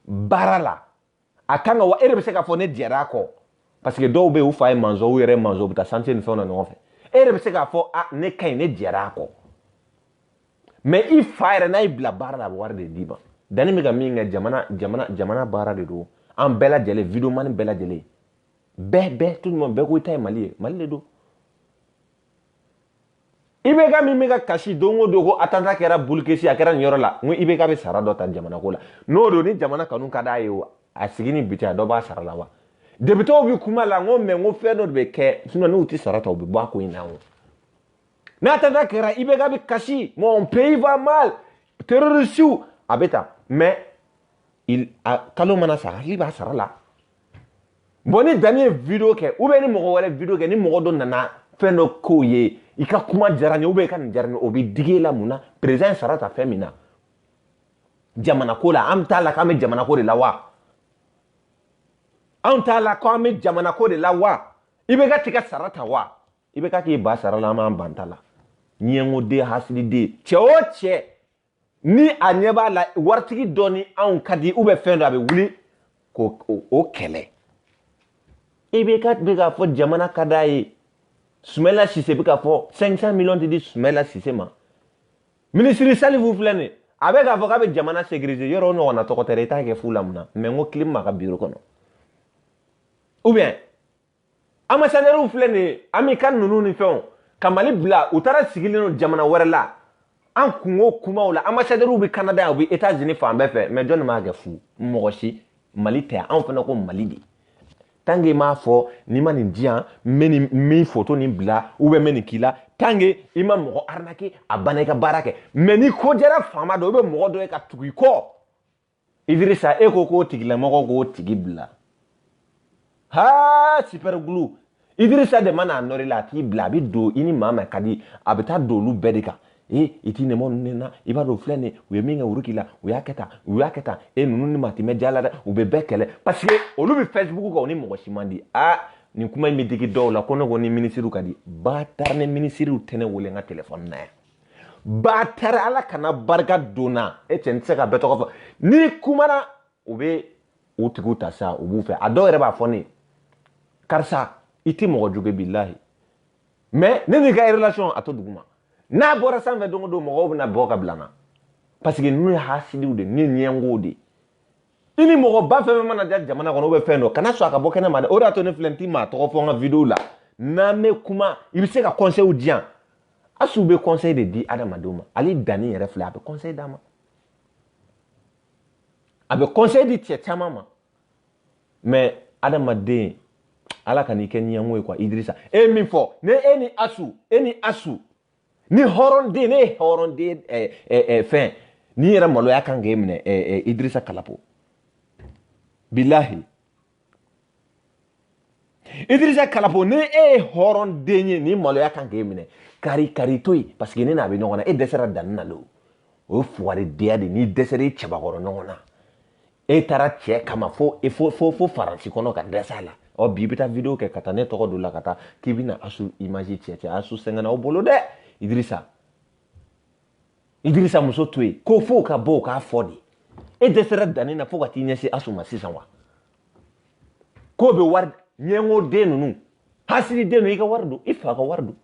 baara la a kan ka wa e de bɛ se k'a fɔ ne jɛra a kɔ parce que dɔw bɛ yen u fa ye masɔn u yɛrɛ masɔn u bɛ taa chantier ni fɛnw na ɲɔgɔn fɛ e de bɛ se k'a fɔ a ne kɔni ne jɛra a kɔ mais i fa yɛrɛ n'a y'i bila baara la a bɛ wari de d'i ma danni bɛ ka min kɛ jamana jamana jamana baara de don an bɛɛ lajɛlen videomani bɛɛ lajɛlen bɛɛ bɛɛ tout le monde bɛɛ ko i ta ye mali ye mali de don IBK min bɛ ka kasi don o don ko attentat kɛra bulukesi a kɛra nin yɔrɔ la n ko IBK bɛ sara dɔ ta jamana ko la n'o don ni jamana kanu ka d'a ye o a sigi ni bi cɛ a dɔ bɔ a sara la wa depitew bɛ kuma la n ko mais n ko fɛn dɔ de bɛ kɛ sinɔn n'u tɛ sara ta u bɛ bɔ a ko in na o n'attentat kɛra IBK bɛ kasi mon pays va mal terrorisiw a bɛ tan mais il a kalo mana sa a hakili b'a sara la bon ni danni ye video kɛ ou bien ni mɔgɔ wɛrɛ video kɛ ni mɔgɔ dɔ nana fɛn dɔ k'o ye i ka kuma diyara n ye ou bien i ka nin diyara n ye o bɛ digi e la mun na président ye sara ta fɛn min na jamanako la an bɛɛ t'a la k'an bɛ jamanako de la wa anw t'a la ko an bɛ jamanako de la wa IBK t'i ka sara ta wa IBK k'i ban sara la an b'an ban an ta la ɲɛngoden hasididen cɛ o cɛ ni a ɲɛ b'a la waritigi dɔ ni anw ka di u bɛ fɛn dɔ a bɛ wuli k'o kɛlɛ IBK bɛ k'a fɔ jamana ka d'a ye sumɛla sise bɛ k'a fɔ 500 miliyɔn tɛ di sumɛla sise ma minisiri salifu filɛ nin a bɛ k'a fɔ k'a bɛ jamana sécuriser yɔrɔ o ɲɔgɔnna tɔgɔ tɛ dɛ i t'a kɛ fu la mun na mais n ko kilim ma ka biro kɔnɔ ou bien ambassadeurw filɛ nin ye an b'i ka ninnu ni fɛnw ka mali bila u taara sigilen don jamana wɛrɛ la an kunko kumaw la ambassadeurw bɛ kanada yan u bɛ etats unis fan bɛɛ fɛ mais jɔni m'a kɛ fu mɔgɔ si mali tɛ anw fana ko mali de tant que i m'a fɔ n'i ma nin di yan n bɛ nin min foto nin bila ou bien n bɛ nin k'i la tant que i ma mɔgɔ arnaquer a banna i ka baara kɛ mais n'i ko diyara faama dɔ i bɛ mɔgɔ dɔ ye ka tugu i kɔ idirisa e ko k'o tigilamɔgɔ k'o tigi bila ha super glue idirisa de mana nɔrɔ i la a t'i bila abadan i ni maa min ka di a bɛ taa don olu bɛɛ de kan e i t'i nɛmɔ ninnu ne na i b'a dɔn filɛ nin u ye min kɛ wuru k'i la u y'a kɛ tan u y'a kɛ tan e ninnu ni maa tɛ mɛɛn diya la dɛ u bɛ bɛɛ kɛlɛ parce que olu bɛ facebook kan u ni mɔgɔ si man di a nin kuma in bɛ digi dɔw la ko ne ko ni minisiriw ka di batara ni minisiriw tɛ ne wele n ka telefɔni na yan batara ala kana barika don n na e cɛ n tɛ se ka bɛɛ tɔgɔ fɔ n'i kumana u bɛ u tigiw ta sa u b'u fɛ a dɔw yɛrɛ b'a fɔ ne karisa i tɛ mɔgɔ jugu bilahi mais ne n'i ka relation a to duguma n'a bɔra sanfɛ don o don mɔgɔw bɛna bɔ ka bila n na parce que n'u ye hasidiw de n'u ye ɲɛngow de i ni mɔgɔba fɛn o fɛn mana diya jamana kɔnɔ bɛ fɛn dɔ kana sɔn a ka bɔ kɛnɛ ma dɛ o de y'a to ne filɛ n ti maa tɔgɔ fɔ n ka video la n'an bɛ kuma i bɛ se ka conseils di yan Asu bɛ conseil de di adamadenw ma ale Dani yɛrɛ filɛ a bɛ conseil d'a ma a bɛ conseil di cɛ caman ma mais adamaden ala kan'i kɛ ɲɛngo ye quoi Idrissa e ye min fɔ ne e ni Asu e ni Asu ni hɔrɔnden n'e ye hɔrɔnden eh, eh, eh, fɛn nin yɛrɛ maloya kan k'e minɛ eh, eh, Idrissa Kalapo bilahi idirisa kalapo ni e ye hɔrɔn den ye nin maloya kan k'e minɛ kari kari to yen paseke ne n'a bɛ ɲɔgɔn na e dɛsɛra dani na lo o ye fugaridenya de n'i dɛsɛra i cɛbakɔrɔ ɲɔgɔn na e taara cɛ kama fo e fo fo fo faransi kɔnɔ ka dɛsɛ a la ɔ bi i bɛ taa video kɛ ka taa ne tɔgɔ don la ka taa k'i bɛna asu image tiɲɛ cɛ asu sɛgɛnna o bolo dɛ idirisa idirisa muso to yen ko fo ka bɔ o k'a fɔ de e dɛsɛra dani na fo ka t'i ɲɛsin asu ma sisan wa k'o bɛ wari ɲɛngo den ninnu hasidi den ninnu i ka wari don i fa ka wari don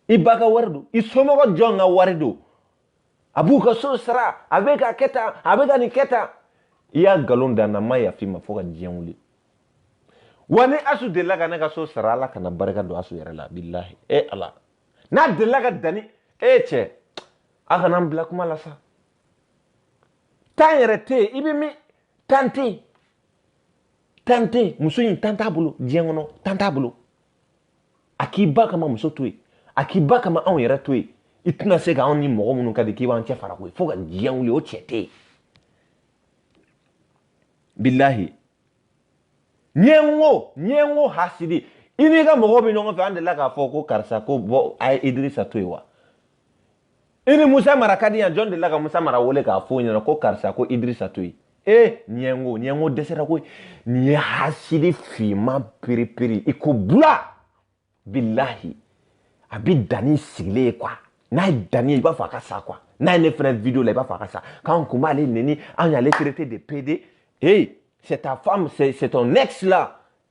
i ba ka wari don i somɔgɔ jɔn ka wari don a b'u ka so sara a bɛ ka kɛ tan a bɛ ka nin kɛ tan i ye nkalon da n na n ma yafa i ma fo ka diɲɛ wuli wa ni asu delila ka ne ka so sara ala kana barika don asu yɛrɛ la bilahi e ala n'a delila ka dani e cɛ a kana n bila kuma la sa tan yɛrɛ tɛ yen i bɛ min tan tɛ yen tan tɛ yen muso in tan t'a bolo diɲɛ kɔnɔ tan t'a bolo a k'i ba kama muso to yen a k'i ba kama anw yɛrɛ to yen i tɛna se ka anw ni mɔgɔ minnu ka di k'i b'an cɛ fara koyi fo ka diɲɛ wuli o cɛ tɛ yen bilahi ɲɛngo ɲɛngo hasidi i n'i ka mɔgɔw bɛ ɲɔgɔn fɛ an delila k'a fɔ ko karisa ko bɔ a ye idirisa to yen wa i ni musa mara ka di yan jɔn delila ka musa mara wele k'a fɔ ɲɛna ko karisa ko idirisa to yen ee ɲɛngo ɲɛngo dɛsɛra koyi nin ye hasidi finman periperi i ko bula bilahi a bi danni sigilen ye quoi n'a ye danni ye i b'a fɔ a ka sa quoi n'a ye ne fana video la i b'a fɔ a ka sa k'an kun b'ale neni an y'ale traité de pédé hey c'est ta femme c'est ton ex là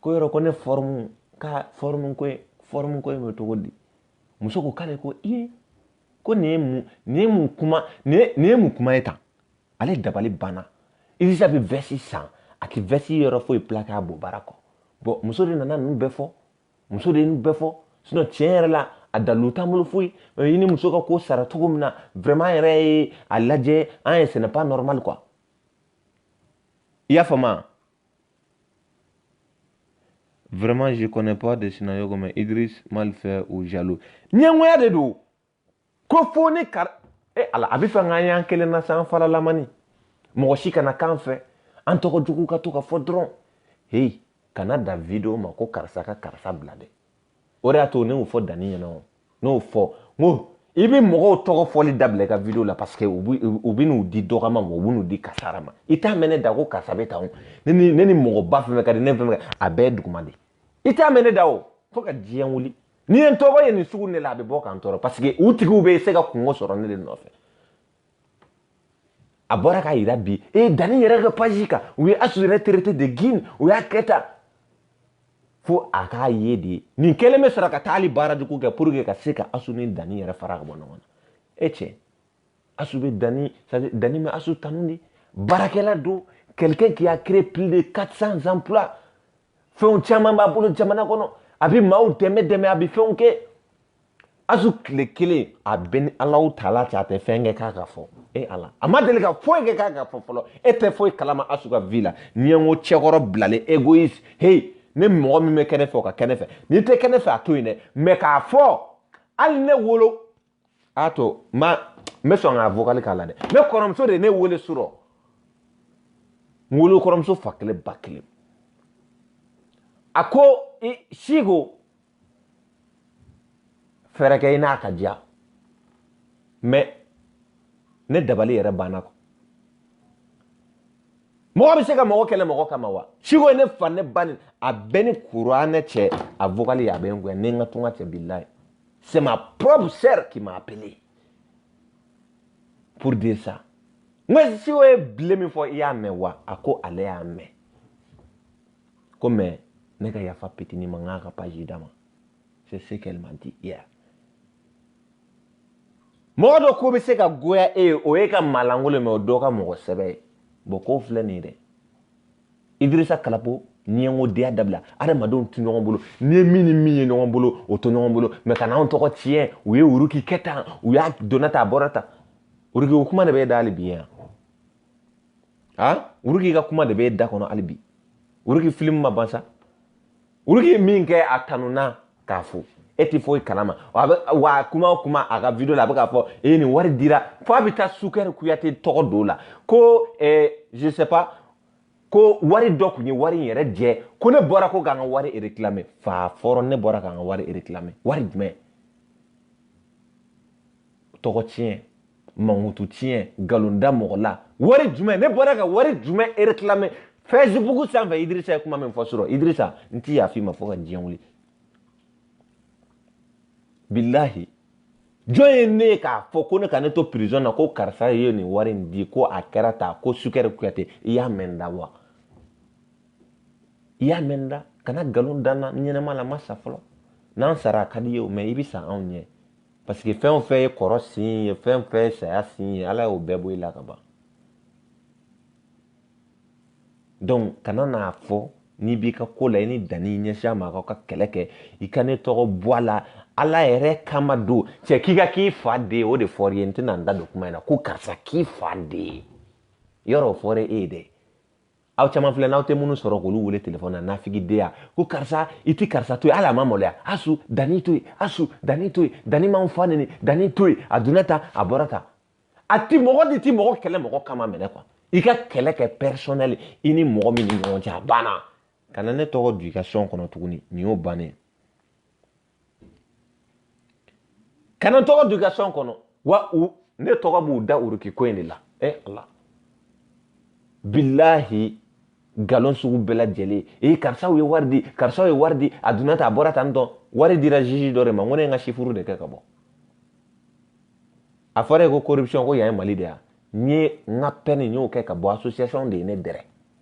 ko yɔrɔ ko ne fɔrɔmu ka fɔrɔmu ko fɔrɔmu ko bɛ cogo di muso ko k'ale ko i ko nin ye mun nin ye mun kuma nin ye mun kuma ye tan ale dabali banna idirisa bɛ vɛsi san a tɛ vɛsi yɔrɔ foyi pilaki a bɔ baara kɔ bɔn muso de nana ninnu bɛɛ fɔ muso de ye ninnu bɛɛ fɔ sinɔn tiɲɛ yɛrɛ la a dalilu t'an bolo foyi i ni muso ka ko sara cogo min na vraiment an yɛrɛ ye a lajɛ an ye ce n'est pas normal quoi i y'a faamu Vraiment, je connais pas de Sinayogo, comme Idriss, malfait ou jaloux. Ɲɛngoya de don. Ko fo ne kar... Eh, ala, a b'a fɛ k'an y'an kelen na sa an fara lamani. Mɔgɔ si kana k'an fɛ. An tɔgɔ jugu ka to ka fɔ dɔrɔn. Hey, kana da video ma ko karisa ka karisa bila dɛ. o de y'a to ne y'o fɔ danni ɲɛna o ne y'o fɔ n ko i bɛ mɔgɔw tɔgɔ fɔli dabila i ka video la parce que u bɛ n'u di dɔgɔma ma u bɛ n'u di kasara ma i t'a mɛn ne da ko karisa bɛ tan o ne ni ne ni mɔgɔba fɛn fɛn ka di ne fɛn fɛn a bɛɛ duguma de i t'a mɛn ne da o fo ka diɲɛ wuli n'i ye n tɔgɔ ye nin sugu ne la a bɛ bɔ k'an tɔɔrɔ parce que u tigiw bɛ se ka kunko sɔrɔ ne de nɔfɛ a bɔra k'a yira bi e danni yɛrɛ ka page kan u ye asu yɛrɛ traité de gouine u y'a kɛ tan fo a k'a ye de nin kelen bɛ sɔrɔ ka taa hali baarajugu kɛ pour que ka se ka asu ni danni yɛrɛ fara ka bɔ ɲɔgɔn na e cɛ asu bɛ danni danni bɛ asu tanu dɛ baarakɛla don quelqu'un qui a créé plus de 400 emplois fɛnw caman b'a bolo jamana kɔnɔ a bɛ maaw dɛmɛ dɛmɛ a bɛ fɛnw kɛ asu tile kelen a bɛ ni alaw tala cɛ a tɛ fɛn kɛ k'a ka fɔ e ala a ma deli ka foyi kɛ k'a ka fɔ fɔlɔ e tɛ foyi kalama asu ka vie la n'i ye n ko cɛkɔrɔ bilalen égoïste heyi ne mɔgɔ min bɛ kɛ ne fɛ o ka kɛ ne fɛ n'i tɛ kɛ ne fɛ a to yen dɛ mais k'a fɔ hali ne wolo a to ma n bɛ sɔn k'a vokali k'a la dɛ ne kɔrɔmuso de ye ne wele surɔ n wolo kɔrɔmuso fa kelen ba kelen a ko siko fɛɛrɛ kɛ i n'a ka diya mɛ ne dabali yɛrɛ banna ko mɔgɔ bɛ se ka mɔgɔ kɛlɛ mɔgɔ kama wa siko ye ne fa ne ba ni a bɛ ni kuranɛ cɛ a vokali a bɛ n goya ne n ka tunga cɛ bilayi c'est ma propre sœur qui m'a appelé pour dire ça n ko siko ye bile min fɔ i y'a mɛn wa a ko ale y'a mɛn ko mais ne ka yafa pitini ma ŋa ka page d'a ma c'est ce qu'elle m'a dit hier mɔgɔ dɔ ko bɛ se ka goya e ye o ye ka malangolo mɛ o dɔ ka mɔgɔ sɛbɛ ye bɔn k'o filɛ nin ye dɛ idirisa kalapo ɲɛngodenya dabila adamadenw tɛ ɲɔgɔn bolo n'i ye min ni min ye ɲɔgɔn bolo o to ɲɔgɔn bolo mɛ kana anw tɔgɔ tiɲɛ u ye uruki kɛ tan u y'a donna tan a bɔra tan uruki o kuma de bɛ e da hali bi yan a uruki ka kuma de bɛ e da kɔnɔ hali bi Woroki film ma ban sa Woroki ye min kɛ a tanuna k'a fo e tɛ foyi kalama wa kuma o kuma a ka video la a bɛ k'a fɔ e nin wari dira fo a bɛ taa sukɛri kuyate tɔgɔ don la ko eh, je sais pas ko wari dɔ tun ye wari in yɛrɛ jɛ ko ne bɔra ko ka n ka wari réclamer fa fɔrɔ ne bɔra ka n ka wari réclamer wari jumɛn tɔgɔ tiɲɛ mankutu tiɲɛ nkalon da mɔgɔ la wari jumɛn ne bɔra ka wari jumɛn réclamer Facebook sanfɛ idirisa ye kuma min fɔ sɔrɔ idirisa n ti yaf'i ma fo ka diɲɛ wuli bilahi jɔn ye ne ye k'a fɔ ko ne ka ne to prison na ko karisa ye nin wari in di ko a kɛra tan ko sukɛri kuyate i y'a mɛn n da wa i y'a mɛn n da kana nkalon da n na ɲɛnama la n ma sa fɔlɔ n'an sara a ka d'i ye o mɛ i bɛ sa anw ɲɛ parce que fɛn o fɛn ye kɔrɔ sin ye fɛn o fɛn ye saya sin ye ala y'o bɛɛ bɔ i la ka ban donc kana n'a fɔ n'i b'i ka ko la i ni danni i ɲɛsin a ma aw ka kɛlɛ kɛ i ka ne tɔgɔ bɔ a la ala yɛrɛ kama don cɛ k'i ka k'i fa de ye o de fɔr'i ye n tɛna n da don kuma in na ko karisa k'i fa de ye yɔrɔ o fɔra e ye dɛ aw caman filɛ n'aw tɛ minnu sɔrɔ k'olu wele telefɔni na nafigideya ko karisa i ti karisa to yen hali a ma maloya asu danni to yen asu danni to yen danni m'anw fa neni danni to yen a donna tan a bɔra tan a ti mɔgɔ de ti mɔgɔ kɛlɛ mɔgɔ kama minɛ kuwa i ka kɛlɛ kɛ personnel i ni mɔgɔ min ni ɲɔgɔn cɛ a banna kana ne tɔgɔ du i ka sɔn kɔnɔ tuguni nin y'o bannen kana n tɔgɔ du i ka sɔn kɔnɔ wa u ne tɔgɔ b'u da uruki ko in de la e eh, ala bilahi nkalon sugu bɛɛ lajɛlen ee karisaw ye wari di karisaw ye wari di a donna tan a bɔra tan dɔn wari dira juge dɔ de ma n ko ne ye n ka sifuru de kɛ ka bɔ a fɔra yen ko corruption ko yan ye mali de yan n ye n ka peine n y'o kɛ ka bɔ association de ye ne dɛrɛ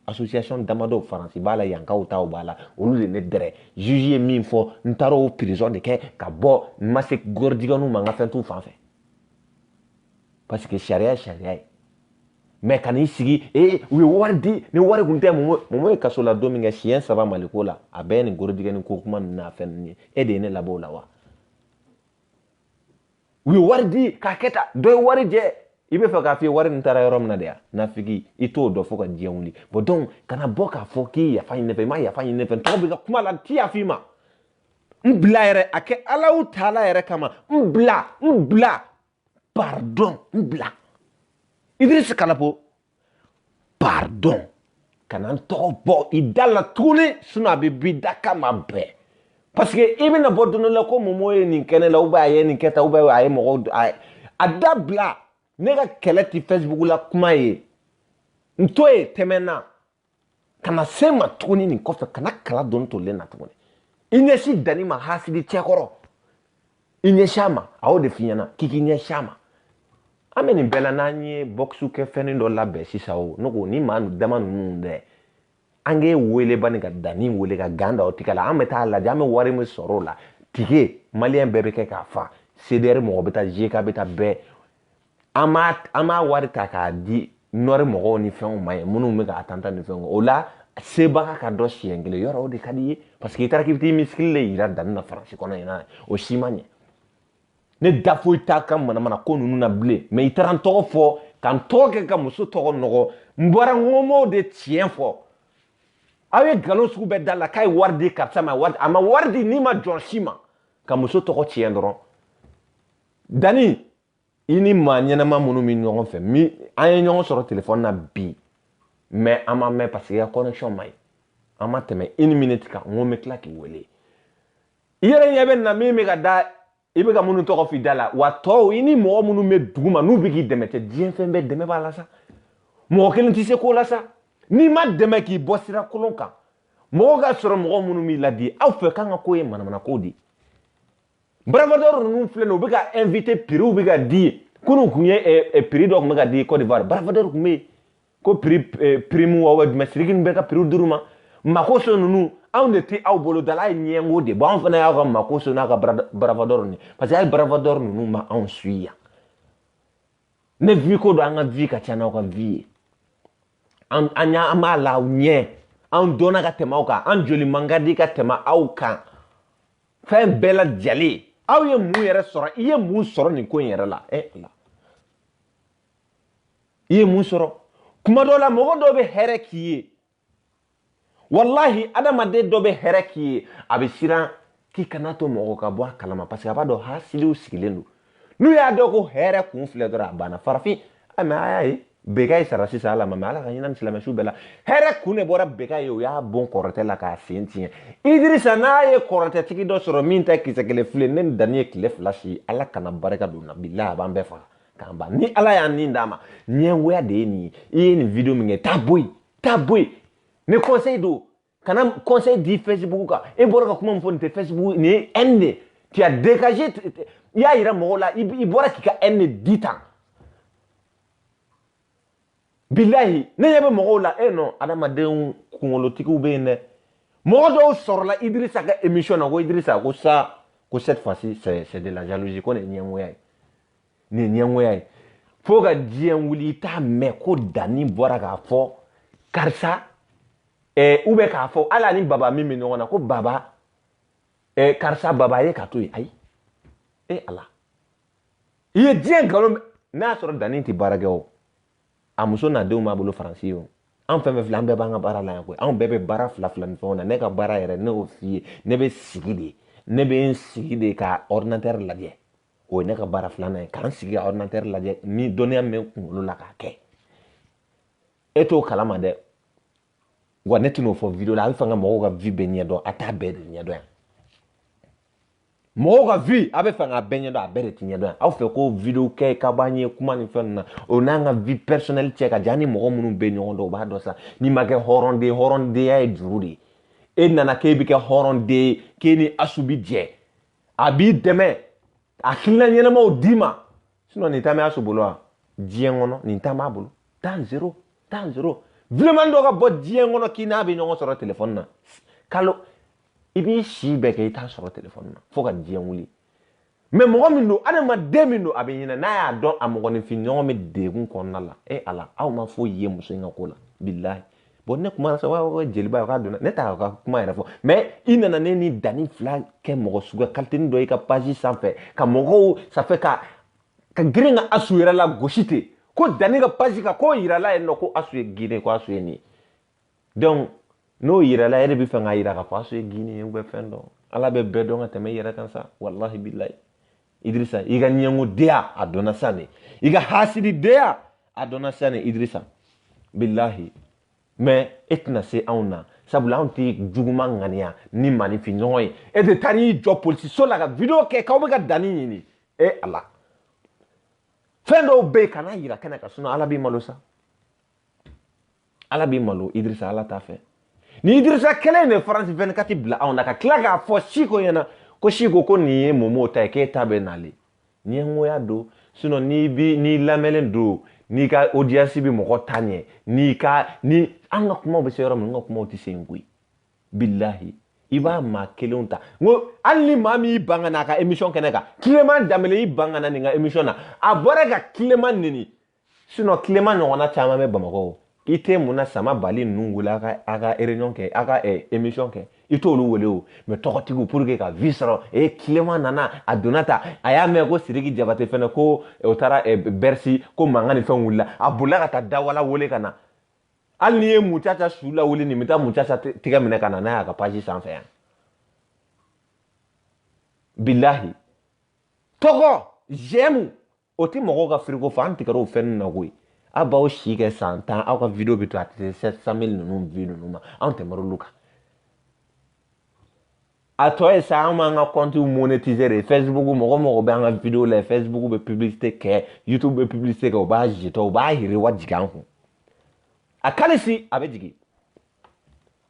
association damadɔ faransi b'a la yankaw taw b'a la olu de ne dɛrɛ juge ye min fɔ n taara o prison de kɛ ka bɔ n ma se gɔridigɛnu ma n ka fɛn t'u fan fɛ parce que sariya ye sariya ye mɛ ka n'i sigi ee u ye wari di ni wari kun tɛ momo momo ye kaso la don min kɛ siɲɛ saba mali ko la a bɛɛ ye nin gorodigɛni ko kuma ninnu n'a fɛn ninnu ye e de ye ne labɔ o la wa u ye wari di k'a kɛ ta dɔ ye warijɛ i bɛ fɛ k'a f'i ye wari nin taara yɔrɔ min na de ya nafigi i t'o dɔ fɔ ka diɲɛ wuli bon donc kana bɔ k'a fɔ k'i yafa ɲini ne fɛ i ma yafa ɲini ne fɛ tɔgɔ bɛ ka kuma la n ti yafa i ma n bila yɛrɛ a kɛ alahu taala yɛrɛ kama n bila n bila pardon n bila idris kalapo pardon kana n tɔgɔ bɔ i da la tuguni sinon a bɛ bi da kama bɛɛ parce que i bɛna bɔ don dɔ la ko momo ye nin kɛ ne la ou bien a ye nin kɛ tan ou bien a ye mɔgɔw a ye a dabila ne ka kɛlɛ ti facebook la kuma ye n to yen tɛmɛ n na kana se n ma tuguni nin kɔfɛ kana kala don nin tolilen na tuguni i ɲɛsi danni ma hasidi cɛkɔrɔ i ɲɛsi a ma a y'o de f'i ɲɛna k'i k'i ɲɛsi a ma an bɛ nin bɛɛ la n'an ye bɔkisi kɛfɛnnin dɔ labɛn sisan o ne ko ni maa dama ninnu dɛ an k'e wele bani ka danni wele ka gan da o tigɛ la an bɛ taa lajɛ an bɛ wari min sɔrɔ o la tikɛ maliyɛn bɛɛ bɛ kɛ k'a fa cdr mɔgɔ bɛ taa jeka bɛ taa bɛɛ an b'a wari ta k'a di nɔri mɔgɔw ni fɛnw ma yen minnu bɛ k'a tantan ni fɛnw o la sebaga ka dɔn siɲɛ kelen yɔrɔ o de ka di ye parce que i taara k'i bɛ t'i misikili de yira danni na faransi kɔnɔ yen na o si ma ɲɛ ne da foyi t'a ka manamana ko ninnu na bilen mɛ i taara n tɔgɔ fɔ ka n tɔgɔ kɛ ka muso tɔgɔ nɔgɔ n bɔra n ko n b'o de tiɲɛ fɔ aw ye nkalon sugu bɛɛ da n na k'a ye wari di karisa ma wari a ma wari di nima jɔn si ma ka muso tɔgɔ tiɲɛ dɔrɔn danni i ni maa ɲɛnama minnu bɛ ɲɔgɔn fɛ min an ye ɲɔgɔn sɔrɔ telefɔni na bi mɛ an ma mɛn paseke i ka connection ma ɲi an ma tɛmɛ une minute kan n ko n bɛ tila k'i wele i yɛrɛ ɲɛ bɛ nin na min bɛ ka da i bɛ ka minnu tɔgɔ f'i da la wa tɔw i ni mɔgɔ minnu bɛ duguma n'u bɛ k'i dɛmɛ tɛ diɲɛ fɛn bɛɛ dɛmɛ b'a la sa mɔgɔ kelen tɛ se ko la sa n'i ma dɛmɛ k'i bɔ sira kolon kan mɔgɔ ka sɔrɔ mɔgɔ minnu b'i laadi aw fɛ k'an ka ko ye manamana ko de ye barafatɔ ninnu filɛ nin u bɛ ka invité piriw bɛ ka di kunun kun ye eh, eh, piri dɔ tun bɛ ka di Côte d'Ivoire barafatɔ tun bɛ yen ko piri eh, primud wa jumɛn siriki ninnu bɛ ka piriw d'u ma makoso ninnu anw de tɛ aw bolo dala ye ɲɛngo de bɔ anw fana y'aw ka makoso n'a ka barafatɔ ninnu parce que a ye barafatɔ ninnu ma anw suivi yan ni vue ko don an ka vue ka ca n'aw ka vue ye an an y'a an b'a la aw ɲɛ an dɔnna ka tɛmɛ aw kan an joli man ka di ka tɛmɛ aw kan fɛn bɛɛ la jalen aw ye mun yɛrɛ sɔrɔ i ye mun sɔrɔ nin ko in yɛrɛ la ɛ ala i ye mun sɔrɔ kuma dɔ la mɔgɔ dɔw bɛ hɛrɛ k'i ye walahi adamaden dɔ bɛ hɛrɛ k'i ye a bɛ siran k'i kan'a to mɔgɔ ka bɔ a kalama parce que a b'a dɔn hasidiw sigilen don n'u y'a dɔn ko hɛrɛ kun filɛ dɔrɔn a banna farafin a mɛ a y'a ye bekayi sara sisan ala ma mɛ ala ka hinɛ a ni silamɛsu bɛɛ la hɛrɛ kun de bɔra bekayi u y'a bon kɔrɔtɛ la k'a sen tiɲɛ idirisa n'a ye kɔrɔtɛtigi dɔ sɔrɔ min ta kisɛ kelen fili ne ni dani ye tile fila si ala kana barika don na bilahi a b'an bɛɛ faga k'an ban ni ala y'an ni d'a ma ɲɛngoya de ye nin ye i ye nin video min kɛ taa bɔ yen taa bɔ yen ni conseil don kana conseil di facebook kan e bɔra ka kuma min fɔ nin tɛ facebook nin ye haine de tu as dégagé i y'a yira mɔgɔw la i bɔra k'i ka haine de di tan bilahi ne ɲɛ bɛ mɔgɔw la e eh nɔ adamadenw kunkolotigiw bɛ yen dɛ mɔgɔ dɔw sɔrɔla idirisa ka émission na ko idirisa ko sa ko cette fois ci c'est de la jalousie ko nin ye ɲɛngoya ye nin ye ɲɛngoya ye fo ka diɲɛ wuli i t'a mɛn ko dani bɔra k'a fɔ karisa ɛɛ u bɛ k'a fɔ hali ani baba min bɛ ɲɔgɔn na ko baba ɛɛ karisa baba ye ka to yen ayi e ala i ye diɲɛ nkalon n'a y'a sɔrɔ dani tɛ baara kɛ o a muso n'a denw b'a bolo faransi yen o an fɛn fɛn filɛ an bɛɛ b'an ka baara la yan koyi anw bɛɛ bɛ baara fila fila ni fɛnw na ne ka baara yɛrɛ ne y'o f'i ye ne bɛ sigi de ne bɛ n sigi de ka ordinateur lajɛ o ye ne ka baara filanan ye k'an sigi ka ordinateur lajɛ ni dɔnniya min bɛ kunkolo la k'a kɛ e t'o kalama dɛ wa ne tɛn'o fɔ video la a bɛ fɛ ka mɔgɔw ka vie bɛɛ ɲɛdɔn a t'a bɛɛ de ɲɛdɔn yan mɔgɔw ka vie a bɛ fɛ k'a bɛɛ ɲɛdɔn a bɛɛ de tɛ ɲɛdɔn yan aw fɛ ko video kɛ ka b'an ye kuma ni fɛn ninnu na o n'an ka vie personnelle cɛ ka jan ni mɔgɔ minnu bɛ ɲɔgɔn dɔn u b'a dɔn sisan n'i ma kɛ hɔrɔnden hɔrɔndenya ye juru de ye e nana k'e bɛ kɛ hɔrɔnden ye k'e ni asu bi jɛ a b'i dɛmɛ ka hakilina ɲɛnamaw d'i ma sinɔn le temps bɛ asu bolo wa diɲɛ kɔnɔ le temps b'a bolo temps zéro temps zéro événement dɔ ka bɔ diɲɛ kɔnɔ k'i n'a bɛ ɲɔgɔn sɔrɔ telefɔni na k'alo i b'i si bɛɛ kɛ i t'a sɔrɔ telefɔni na fo ka diɲɛ wuli mɛ mɔgɔ min don adamaden min don a bɛ hinɛ n'a y'a dɔn a mɔgɔninfin ɲɔgɔn bɛ dɛgun kɔnɔna la e ala aw ma foyi ye muso in ka ko la bilahi bɔn ne kuma sɔn waa ko jeliba k'a donna ne t'a ka kuma yɛrɛ fɔ mɛ i nana ne ni dani fila kɛ mɔgɔ suguya kalitini dɔ i ka page sanfɛ ka mɔgɔw sanfɛ ka ka girin ka asu yɛrɛ lagosi ten ko dani ka page ka k'o yirala yen nɔ ko asu ye gine ko asu ye nin donc n'o yirala e de bɛ fɛ k'a yira k'a fɔ asu ye gine ye u bɛ fɛn dɔ ala b'a bɛɛ dɔn ka tɛmɛ i yɛrɛ kan sa walahi bilahi idirisa i ka ɲɛngodenya a dɔnna sa ne i ka hasididenya a dɔnna sa ne idirisa bilahi mɛ e tɛna se anw na sabula anw tɛ juguma ŋaniya ni maaninfin ɲɔgɔn ye e de taara i jɔ polisiso la ka video kɛ k'aw bɛ ka danni ɲini e ala fɛn dɔw bɛ yen kan'a yira kɛnɛ kan sinɔn ala b'i malo sa ala b'i malo idirisa ala t'a fɛ ni idirisa kelen de france 24 bila anw na ka tila k'a fɔ siko ɲɛna ko siko ko nin ye momo ta ye k'e ta bɛ nale ɲɛngoya don sinɔn n'i bi n'i lamɛnlen don n'i ka audience bɛ mɔgɔ ta ɲɛ n'i ka ni an ka kumaw bɛ se yɔrɔ min n ka kumaw tɛ se yen koyi bilahi i b'a maa kelenw ta n ko hali ni maa min y'i ban ka na a ka émission kɛnɛ kan tilema danbele y'i ban ka na nin ka émission na a bɔra ka tilema neni sinɔn tilema ɲɔgɔnna caman bɛ bamakɔ i tɛ mun na sama bali ninnu wele a ka a ka réunion kɛ a ka eh, émission kɛ i t'olu wele o mais tɔgɔtigiw pour que ka vue sɔrɔ e eh, tilema nana a donna ta a y'a mɛn ko sidiki jabate fɛnɛ ko eh, o taara bersi ko mankan ni fɛn wulila a bolila ka taa dawala wele ka na hali n'i ye mucaca su lawuli nin bɛ taa mucaca tɛgɛ minɛ ka na n'a y'a ka page sanfɛ yan bilahi tɔgɔ jɛmu o tɛ mɔgɔw ka firiko fɔ an tigɛra o fɛn ninnu na koyi aw b'aw si kɛ san tan aw ka video bɛ to a tɛ se sept cent mille ninnu vue ninnu ma anw tɛmɛr'olu olu kan a tɔ ye sa an b'an ka kɔntiw monetiser de facebook mɔgɔ mɔgɔ bɛ an ka video lajɛ facebook bɛ publicité kɛ youtube bɛ publicité kɛ u b'a jetɔ u b'a yiriwa jigin an kun a kalisi a bɛ jigin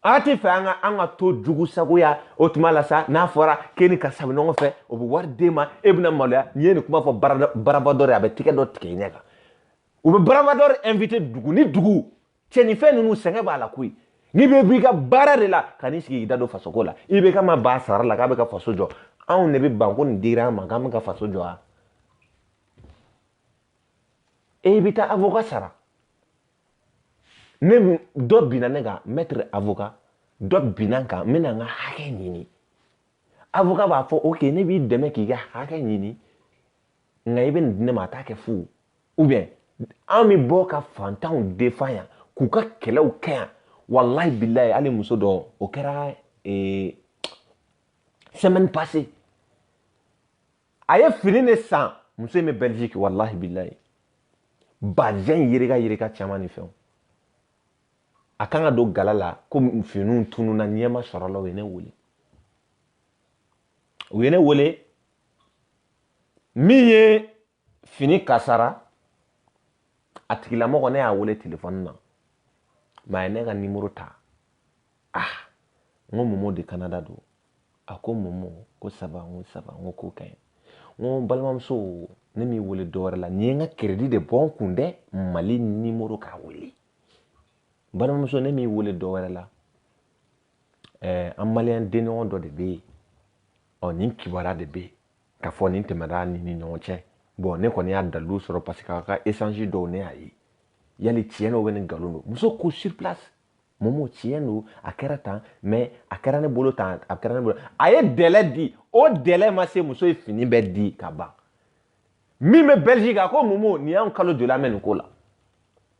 a t'a fɛ an ka an ka to jugu sagoya o tuma la sa n'a fɔra k'e ni karisa bɛ ɲɔgɔn fɛ o bɛ wari d'e ma e bɛna maloya n'i ye nin kuma fɔ baraba dɔ de a bɛ tɛgɛ dɔ tigɛ i ɲɛ kan u bɛ baraba dɔ de invite dugu ni dugu cɛ ni fɛn ninnu sɛgɛn b'a la koyi n'i bɛ b'i ka baara de la ka n'i sigi k'i da don fasoko la i bɛ ka ma ba sara la k'a bɛ ka faso jɔ anw de bɛ ban ko nin dira an ma k'an bɛ ka faso jɔ wa e bɛ taa avocat sara ni dɔ binna ne kan maître avocat dɔ binna n kan n bɛna n ka hakɛ ɲini avocat b'a fɔ ok ne b'i dɛmɛ k'i ka hakɛ ɲini nka i bɛ nin di ne ma a t'a kɛ fu ou bien an bɛ bɔ ka fantanw défendre yan k'u ka kɛlɛw kɛ yan walayi bilayi hali muso dɔ o kɛra ee, semaine passée a ye fini de san muso in bɛ belgique walahi bilayi bazɛn yereka yereka caman ni fɛnw a kan ka don gala la ko finiw tununna ɲɛ ma sɔrɔ la u ye ne wele u ye ne wele min ye fini kasara a tigilamɔgɔ ne y'a wele telefɔni na mɛ a ye ne ka nimoro ta ah n ko momo de canada don A ko momo ko ça va n ko ça va n ko k'o ka ɲi n ko balimamuso ne m'i wele dɔ wɛrɛ la ne ye n ka kɛrɛdi de bɔ n kun dɛ mali nimoro k'a wele balimamuso ne m'i wele dɔ wɛrɛ la ɛɛ an maliyɛn denɲɔgɔn dɔ de bɛ yen ɔ nin kibaruya de bɛ yen k'a fɔ nin tɛmɛna nin ni ɲɔgɔn cɛ bɔn ne kɔni y'a dalilu sɔrɔ parce que a ka échange dɔw ne y'a ye yali tiɲɛ don ou bien nkalon don muso ko sur place momo tiɲɛ don a kɛra tan mɛ a kɛra ne bolo tan a kɛra ne bolo a ye délai di o délai ma se muso ye fini bɛɛ di ka ban min bɛ belgique a ko momo nin y'an kalo joli an bɛ nin ko la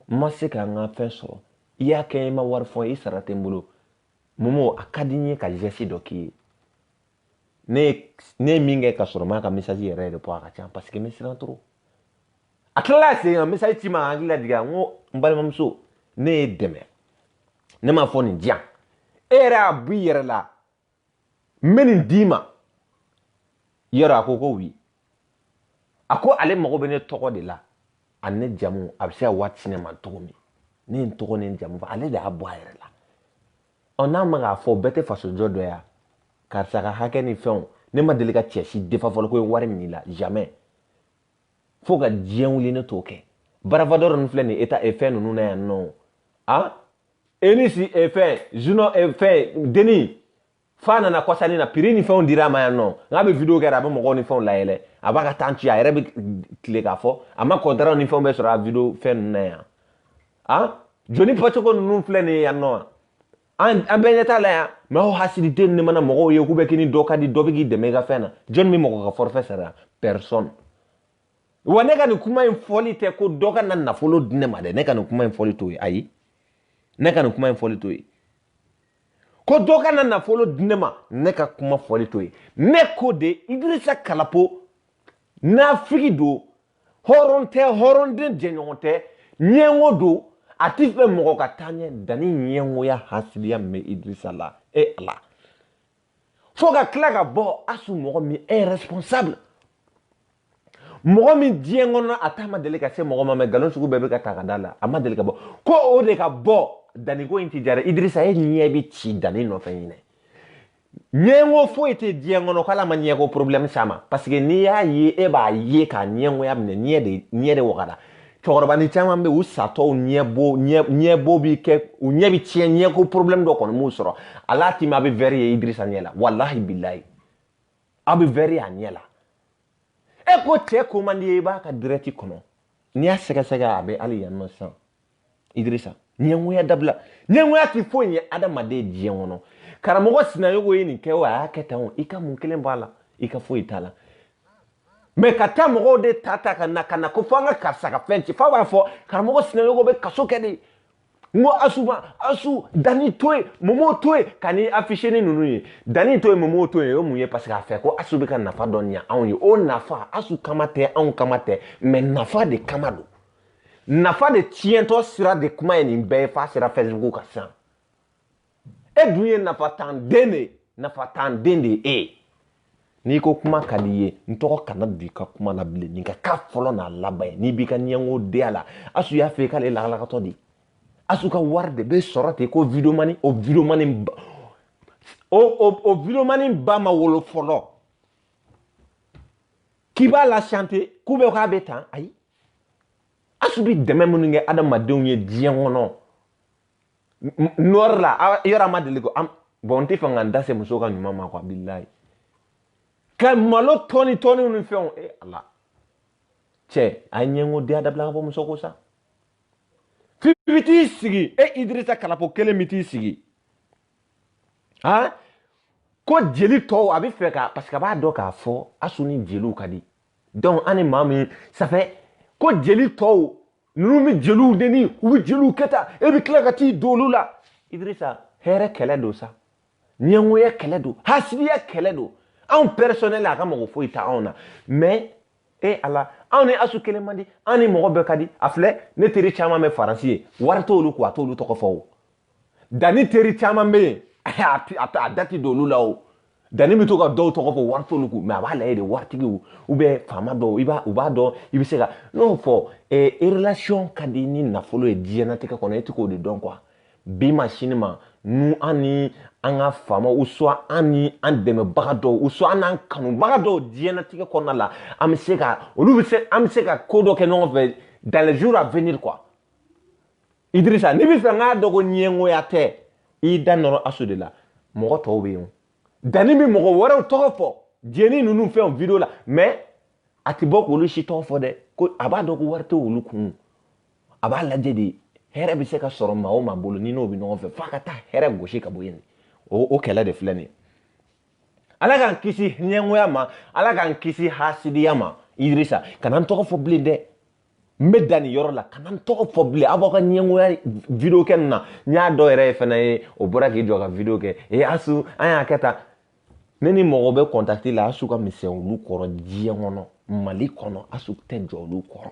n ma se ka n ka fɛn sɔrɔ i y'a kɛ i ma wari fɔ i sara tɛ n bolo momo a ka di n ye ka geste dɔ k'i ye ne ye min kɛ ka sɔrɔ n m'a ka message yɛrɛ yɛrɛ bɔ a ka ca parce que n bɛ siran trop a tilala sen kan message ci n ma ka n hakili lajigin n ko n balimamuso ne y'e dɛmɛ ne m'a fɔ nin di yan e yɛrɛ y'a b'i yɛrɛ la n bɛ nin d'i ma yɔrɔ a ko ko wi a ko ale mago bɛ ne tɔgɔ de la ani ne jamu a bɛ se ka wari ci ne ma cogo min ne ye n tɔgɔ ni n jamu fɔ ale de y'a bɔ a yɛrɛ la ɔ n'a ma k'a fɔ bɛɛ tɛ fasojɔ dɔ ya karisa ka hakɛ ni fɛnw ne ma deli ka cɛ si défendre fɔlɔ ko ye wari minɛ i la jamais fo ka diɲɛ wuli ne t'o kɛ barafadɔrɔ ninnu filɛ nin ye eta fɛn ninnu na yan nɔ a enisi fɛn junɔ fɛn deni fa nana kɔsani na prix ni fɛnw dira a ma yan nɔ n'a bɛ video kɛ la a bɛ mɔgɔw ni fɛnw layɛlɛ a b'a ka tan ci a yɛrɛ bɛ tile k'a fɔ a ma kɔntaraw ni fɛnw bɛ sɔrɔ a video fɛn ninnu na yan a joli bɔcogo ninnu filɛ nin ye yan nɔ an an bɛɛ ɲɛ t'a la yan mɛ aw hasididen ne mana mɔgɔw ye k'u bɛ k'i ni dɔ ka di dɔ bɛ k'i dɛmɛ i ka fɛn na jɔni bɛ mɔgɔ ka forfait sara personne wa ne ka nin kuma in fɔli tɛ ko dɔ ka na nafolo di ne ma dɛ ne ka nin kuma in fɔli t'o ye ayi ne ka nin kuma in fɔli t'o ye ko dɔ ka na nafolo di ne ma ne ka kuma fɔli t'o ye ne ko de idirisa kalapo nafigi don hɔrɔn tɛ hɔrɔnden jɛɲɔgɔn tɛ ɲɛngo don a ti fɛ mɔgɔ ka taa ɲɛ dani ɲɛngoya hasidiya min bɛ idrisa la e ala fo ka tila ka bɔ asu mɔgɔ min ye responsable mɔgɔ min diɲɛ kɔnɔ a ta ma deli ka se mɔgɔ ma mɛ nkalon sugu bɛɛ bɛ ka ta ka d'a la a ma deli ka bɔ ko o de ka bɔ daniko in ti jara idrisa e ɲɛ bɛ ci dani nɔfɛ ɲinan ɲɛngo foyi tɛ diɲɛ kɔnɔ k'ala ma ɲɛko problème s'a ma parce que n'i y'a ye e b'a ye k'a ɲɛngoya minɛ ɲɛ de ɲɛ de wagada cɛkɔrɔba nin caman bɛ u satɔw ɲɛbo ɲɛbo bi kɛ u ɲɛ bi tiɲɛ ɲɛko problème dɔ kɔni m'u sɔrɔ ala ti ma a bɛ vɛri ye idirisa ɲɛ la walahi bilayi a bɛ vɛri a ɲɛ la e ko cɛ ko man d'i ye i b'a ka direct kɔnɔ n'i y'a sɛgɛsɛgɛ a bɛ hali yan nɔ sisan idirisa ɲɛngoya dabila ɲɛngoya ti foyi ɲɛ adamaden diɲɛ kɔnɔ karamɔgɔ sinayogo ye nin kɛ o a y'a kɛ tan o i ka mun kelen b'a la i ka foyi t'a la mɛ ka taa mɔgɔw de ta ta ka na ka na ko fo an ka karisa ka fɛn ci fo a b'a fɔ karamɔgɔ sinayogo bɛ kaso kɛ de n ko asuba asu dani to ye momo to ye ka ni afisiyeni ninnu ye dani to ye momo to ye o mun ye parce que a fɛ ko asu bɛ ka nafa dɔ ɲa anw ye o nafa asu kama tɛ anw kama tɛ mɛ nafa de kama don nafa de tiɲɛtɔ sira de kuma ye nin bɛɛ ye f'a sera fɛsibugu kan sisan e dun ye nafantan den de ye nafantan den de ye e ye n'i ko kuma ka di i ye n tɔgɔ kana don i ka kuma la bilen nin ka k'a fɔlɔ n'a laban ye n'i b'i ka ɲɛngo di a la asu y'a fɔ i k'ale lagalagatɔ de asu ka wari de bɛ sɔrɔ ten ko videomani o videomani o o o videomani ba ma wolo fɔlɔ k'i b'a la chante k'u bɛ k'a bɛ tan ayi asu bi dɛmɛ minnu kɛ adamadenw ye diɲɛ kɔnɔ nɔri la yɔrɔ ma deli ko bɔn n tɛ fɛ ka n da se muso ka ɲuman ma quoi bilayi ka malo dɔɔni dɔɔni ni fɛnw e ala cɛ a ye ɲɛngo den a dabila ka bɔ muso ko sa f'i bɛ t'i sigi e idirisa kalapo kelen bɛ t'i sigi han ko jeli tɔw a bɛ fɛ ka parce que a b'a dɔn k'a fɔ asu ni jeliw ka di donc an ni maa min safɛ ko jeli tɔw ninnu bɛ jeliw neni u bɛ jeliw kɛ tan e bɛ tila ka t'i don olu la idirisa hɛrɛ kɛlɛ don sa ɲɛngoya kɛlɛ don hasidiya kɛlɛ don anw personnel a ka mago foyi tɛ anw na mɛ e ala anw ni asu kelen man di an ni mɔgɔ bɛɛ ka di a filɛ ne teri caman bɛ faransi yen wari t'olu kun a t'olu tɔgɔ fɔ o danni teri caman bɛ yen a da tɛ don olu la o danni bɛ to ka dɔw tɔgɔ fɔ wari t'olu kun mɛ a b'a lajɛ de waritigiw u bɛ faama dɔw i b'a u b'a dɔn i bɛ se ka n'a fɔ eh, relation ka di ni nafolo ye diɲɛnatigɛ kɔnɔ e tɛ k'o de dɔn quoi bi ma sini ma nu an ni an ka faama u sɔn an ni an dɛmɛbaga dɔw u sɔn an n'an kanubaga dɔw diɲɛnatigɛ kɔnɔna la an bɛ se ka olu bɛ se an bɛ se ka ko dɔ kɛ ɲɔgɔn fɛ dans les jours à venir quoi idirisa n'i bɛ fɛ k'a dɔn ko ɲɛngoya tɛ i da nɔrɔ asu de la mɔgɔ tɔw bɛ yen danni bɛ mɔgɔ wɛrɛw tɔgɔ fɔ jeni ninnu fɛnw video la mɛ a tɛ bɔ k'olu si tɔgɔ fɔ dɛ ko a b'a dɔn ko wari tɛ olu kun a b'a lajɛ de hɛrɛ bɛ se ka sɔrɔ maa o maa bolo n'i n'o bɛ ɲɔgɔn fɛ f'a ka taa hɛrɛ gosi ka bɔ yen o kɛlɛ de filɛ nin ye ala k'an kisi ɲɛngoya ma ala k'an kisi hasidiya ma idirisa kana n tɔgɔ fɔ bilen dɛ n bɛ dan nin yɔrɔ la kana n tɔgɔ fɔ bilen aw b'aw ka ɲɛngoya video kɛ nin na n y'a dɔ yɛrɛ fana ye o bɔra k'i jɔ ka video kɛ ee asu an y'a kɛ tan ne ni mɔgɔ bɛ kɔntakiti la asu ka misɛn olu kɔrɔ diɲɛ kɔnɔ mali kɔnɔ asu tɛ jɔ olu kɔrɔ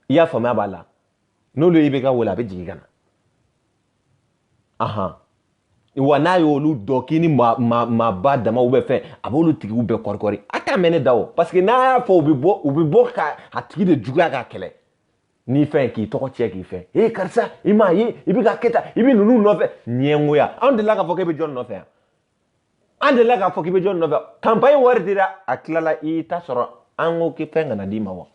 i y'a faamuya b'a la n'olu y'i bɛ ka wele a bɛ jigin ka na ahan wa n'a y'olu dɔn k'i ni maaba dama u bɛ fɛn a b'olu tigiw bɛɛ kɔrikɔri a t'a mɛn ne da o parce que n'a y'a fɔ u bɛ bɔ u bɛ bɔ ka a tigi de juguya k'a kɛlɛ ni fɛn k'i tɔgɔ tiɲɛ k'i fɛn ee karisa i m'a ye i bɛ ka kɛ tan i bɛ ninnu nɔfɛ ɲɛngoya anw delila k'a fɔ k'e bɛ jɔn nɔfɛ yan an delila k'a fɔ k'i bɛ jɔn nɔfɛ kanpaɲi wari dira a tilala i ta sɔrɔ an ko k'i fɛn kana d'i ma wa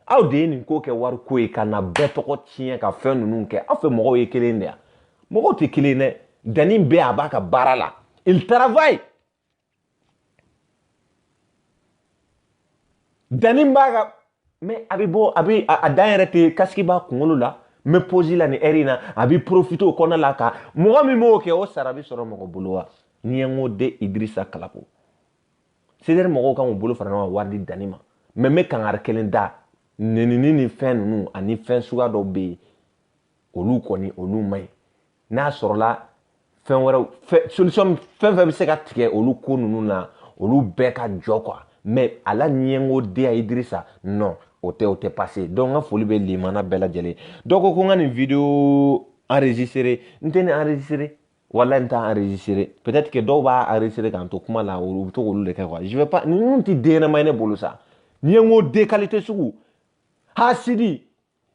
aw de ye nin ko kɛ wari ko ye ka na bɛɛ tɔgɔ tiɲɛ ka fɛn ninnu kɛ aw fɛ mɔgɔw ye kelen de ye mɔgɔw tɛ kelen dɛ danni bɛ a b'a ka baara la il travaille danni b'a ka mais a bɛ bɔ a bɛ a dan yɛrɛ tɛ kasiki b'a kunkolo la n bɛ posi la nin ɛri in na a bɛ porofite o kɔnɔna la ka mɔgɔ min b'o kɛ o sara bɛ sɔrɔ mɔgɔ bolo wa n'i ye n ko de idirisa kalako CDR mɔgɔw kan k'u bolo fara ɲɔgɔn kan wari di danni ma mais n bɛ kangari kelen da nenini ni fɛn ninnu ani fɛn suguya dɔw bɛ yen olu kɔni olu man ɲi n'a sɔrɔla fɛn wɛrɛw fɛ solution fɛn fɛn bɛ se ka tigɛ olu ko ninnu na olu bɛɛ ka jɔ quoi mais a la ɲɛngo de ye Idirisa non o tɛ o tɛ passer donc n ka foli bɛ limana bɛɛ lajɛlen dɔ ko ko n ka nin video enregistrer n tɛ nin enregistrer wala n t'a enregistré peut-être que dɔw b'a enregistré k'an to kuma la u bɛ to k'olu de kɛ quoi je vais pas ninnu tɛ den ɲɛnama ye ne bolo sa n'i ye n ko de qualité sugu hasidi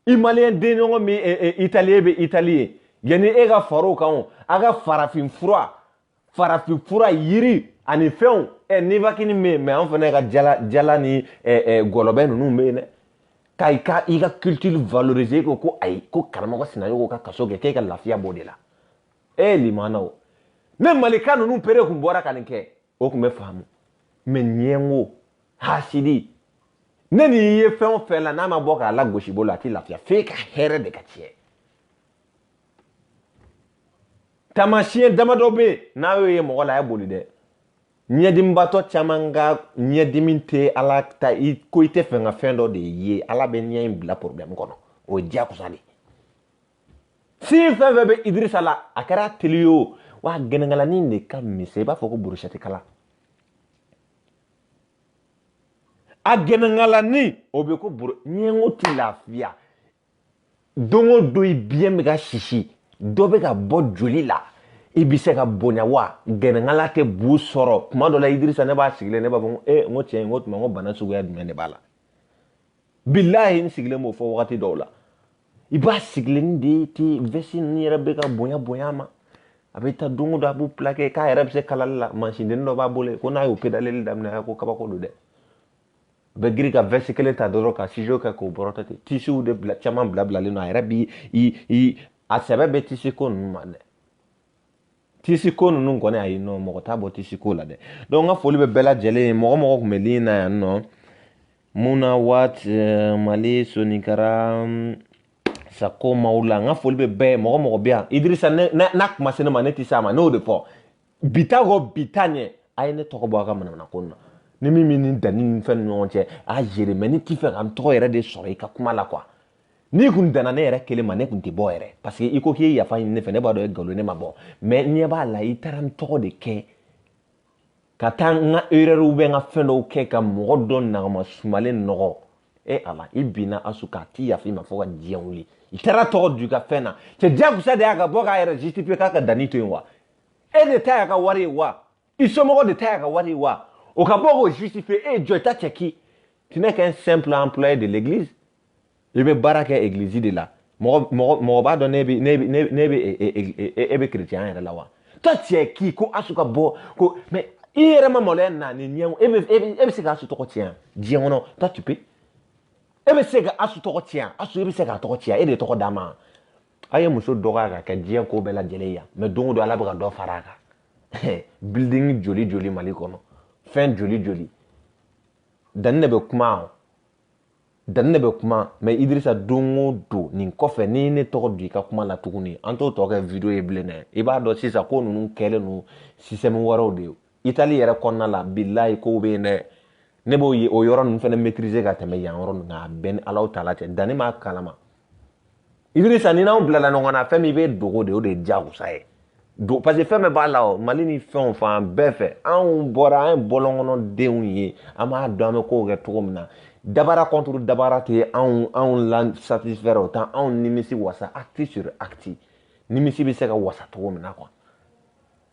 i maliyɛn den ɲɔgɔn min eh, eh, italien bɛ itali ye yanni e ka fara o kan o a ka farafin fura farafin fura yiri ani fɛnw ɛ eh, nivakini bɛ yen mais an fana ka jala jala ni gɔlɔbɛ ninnu bɛ yen dɛ ka i ka i ka culture valoriser ko ko ayi ko karamɔgɔ sinayɔgɔ ka kaso kɛ k'e ka lafiya b'o de la ee limanaw ne malika ninnu pere kun bɔra ka nin kɛ o kun bɛ faamu mais ɲɛngo hasidi ne ni ye fɛn o fɛn la n'a ma bɔ k'a la gosi bolo a tɛ lafiya f'e ka hɛrɛ de ka tiɲɛ taamasiyɛn damadɔ bɛ yen n'a y'o ye mɔgɔ la a ye boli dɛ ɲɛdimibatɔ caman ka ɲɛdimi tɛ ala ta ye ko i t'a fɛ ka fɛn dɔ de ye ala bɛ ɲɛ in bila porobilɛmu kɔnɔ o ye diyagoya de ye sin fɛn fɛn bɛ idirisa la a kɛra teli ye o wa gɛnɛnkalanin de ka misɛn i b'a fɔ ko burushɛti kala a gɛnɛnkalanin o bɛ ko buru ɲɛngo ti lafiya don o don i biɲɛ bɛ ka sisi dɔ bɛ ka bɔ joli la i bɛ se ka bonya wa gɛnɛnkala tɛ bu sɔrɔ tuma dɔ la idirisa ne b'a sigilen ne b'a fɔ ko ee n ko tiɲɛ n ko tuma n ko bana suguya jumɛn de b'a la bilahi n sigilen b'o fɔ wagati dɔw la i b'a sigilen de ti vɛsi ninnu yɛrɛ bɛ ka bonya bonya a ma a bɛ taa don o don a b'u pilake k'a yɛrɛ bɛ se kalali la mansindennin dɔ b'a bolo ko n'a y'o pedaleli daminɛ a ko kabako don dɛ a bɛ girin ka vɛsi kelen ta dɔrɔn ka siso kɛ k'o bɔrɔtɔ ten tisiw de bila caman bilabilalen don a yɛrɛ bi a sɛbɛ bɛ tisi ko ninnu ma dɛ tisiko ninnu kɔni ayi non mɔgɔ t'a bɔ tisiko la dɛ donc n ka foli bɛ bɛɛ lajɛlen ye mɔgɔ mɔgɔ tun bɛ ligne na yan nɔ mun na wat eh, mali soninkara mm, sako maw la n ka foli bɛ bɛɛ ye mɔgɔ mɔgɔ bɛ yan idirisa n'a kuma se ne ma ne tɛ se a ma ne y'o de fɔ bi ta kɔ bi ta ɲɛ a ye ne tɔgɔ bɔ a ka manamana ko na ni min bɛ nin dani ni fɛn ni ɲɔgɔn cɛ a yɛrɛ mais ne t'a fɛ ka n tɔgɔ yɛrɛ de sɔrɔ i ka kuma la quoi n'i kun danna ne yɛrɛ kelen ma ne kun tɛ bɔ yɛrɛ parce que i ko k'i ye yafa ɲini ne fɛ ne b'a dɔn e nkalon ne ma bɔ mais n ɲɛ b'a la i taara n tɔgɔ de kɛ ka taa n ka erreur bɛ n ka fɛn dɔw kɛ ka mɔgɔ dɔ nagama sumalen nɔgɔ e ala i binna asu kan a ti yafa i ma fo ka diɲɛ wuli i taara tɔgɔ don i ka fɛn na cɛ diyagosa de y'a ka bɔ k'a yɛrɛ justifier k'a ka dani to yen wa e de ta y'a ka wari ye wa i somɔgɔ de ta y'a ka wari ye wa o ka bɔ k'o justifier e ye jɔn ye toi t'es qui tu n'es qu'un simple employé de l'église i bɛ baara kɛ egilizi de la mɔgɔ mɔgɔ mɔgɔ b'a dɔn ne bɛ ne bɛ ne bɛ e, e, e, e bɛ kerecɛnya yɛrɛ la wa toi t'es qui ko asu ka bɔ ko mais i yɛrɛ ma maloya na ni ɲɛ e bɛ e bɛ se ka asu tɔgɔ tiɲɛ diɲɛ kɔnɔ toi tu peux e bɛ se ka asu tɔgɔ tiɲɛ asu e bɛ se k'a tɔgɔ tiɲɛ e de tɔgɔ d'a ma a ye muso dɔgɔya ka kɛ diɲɛ ko bɛɛ lajɛlen yan mais don o don ala bɛ ka dɔ fara a kan building joli joli mali kɔnɔ fɛn joli joli dani de bɛ kuma dani ne bɛ kuma mais idirisa don o don nin kɔfɛ ni ne tɔgɔ don i ka kuma la tuguni an t'o tɔ kɛ video ye bilen dɛ i b'a dɔn sisan ko ninnu kɛlen don système wɛrɛw de ye itali yɛrɛ kɔnɔna la bilayi kow bɛ yen dɛ ne b'o yɔrɔ ninnu fana maîtriser ka tɛmɛ yan yɔrɔ ninnu kan a bɛɛ ni alaw taala cɛ dani m'a kalama idirisa ni n'aw bilala ɲɔgɔn na fɛn min bɛ dogo de o de ye diyagosa ye do parce que fɛn bɛɛ b'a la o mali ni fɛn o fan bɛɛ fɛ anw bɔra an ye bɔlɔnkɔnɔ denw ye an b'a dɔn an bɛ kow kɛ cogo min na dabara contre dabara tɛ anw anw la satisfaire o t'an anw nimisi wasa acte sur acte nimisi bɛ se ka wasa cogo min na quoi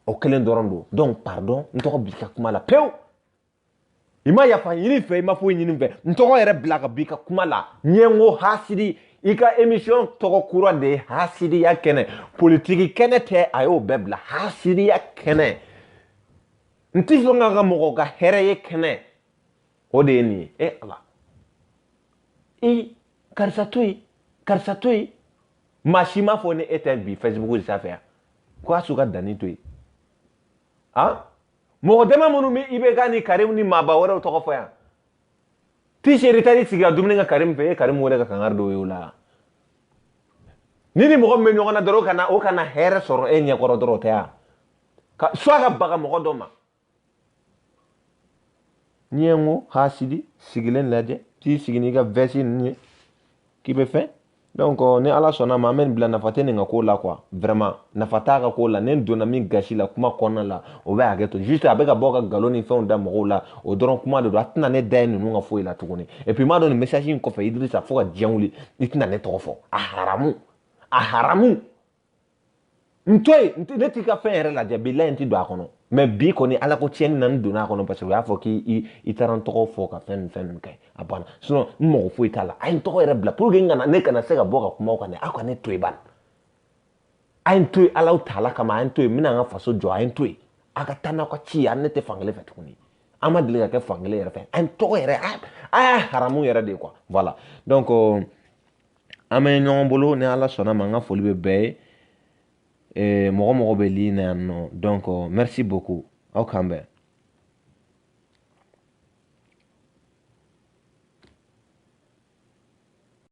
o kelen dɔrɔn don donc pardon n tɔgɔ bɔ i ka kuma la pewu i ma yafa ɲini n fɛ i ma foyi ɲini n fɛ n tɔgɔ yɛrɛ bila ka b'i ka kuma la ɲɛngo hasidi i ka emission tɔgɔ kura de ye hasidiya kɛnɛ politiki kɛnɛ tɛ a y'o bɛɛ bila hasidiya kɛnɛ n tɛ sɔn ka ka mɔgɔ ka hɛrɛ ye kɛnɛ o de ye nin ye e ala i karisa to yen karisa to yen maa si m'a fɔ ni e tɛ bi facebook sanfɛ yan ko a su ka danni to yen han mɔgɔ dama minnu bɛ ibk ni karim ni maaba wɛrɛw tɔgɔ fɔ yan ti seri tari sigi ka dumuni kɛ karim fɛ e karim wɛrɛ ka kangari dɔw ye o la ni ni mɔgɔ min bɛ ɲɔgɔn na dɔrɔn o kana o kana hɛrɛ sɔrɔ e ɲɛkɔrɔ dɔrɔn o tɛ yan ka soit ka baga mɔgɔ dɔ ma ɲɛngo hasidi sigilen lajɛ t'i sigi n'i ka vɛsi ninnu ye k'i bɛ fɛn donc euh, ni ala sɔnna ma an bɛ nin bila nafa tɛ nin ka ko la quoi vraiment nafa t'a ka ko la ne donna min gasi la kuma kɔnɔna la o bɛ hakɛ to juste a bɛ ka bɔ ka nkalon ni fɛnw da mɔgɔw la o dɔrɔn kuma de don a tɛna ne da ye ninnu ka foyi la tuguni et puis n m'a dɔn nin message in kɔfɛ Idrissa fo ka diɲɛ wuli i tɛna ne tɔgɔ fɔ a haramu a haramu n to yen ne t'i ka fɛn yɛrɛ lajɛ bilayi n ti don a kɔnɔ mais bi kɔni ala ko tiɲɛni na n donna a kɔnɔ parce que u y'a fɔ k'i i taara n tɔgɔ fɔ ka fɛn ni fɛn min kɛ a banna sinon n mago foyi t'a la a ye n tɔgɔ yɛrɛ bila pour que n kana ne kana se ka bɔ ka kuma o kan dɛ aw ka ne to yen bani a ye n to yen ala taala kama a ye n to yen n bɛna n ka faso jɔ a ye n to yen a ka taa n'aw ka ci ye a ne tɛ fankelen fɛ tuguni an ma deli ka kɛ fankelen yɛrɛ fɛ a ye n tɔgɔ yɛrɛ a y'a haramu yɛrɛ de ye quoi voilà donc euh, an bɛ ɲɔgɔn bolo ni ala sɔnna ma n ka foli bɛ bɛɛ ye eh, mɔgɔ mɔgɔ bɛ ligne na yan nɔ donc euh, merci beaucoup aw k'an bɛn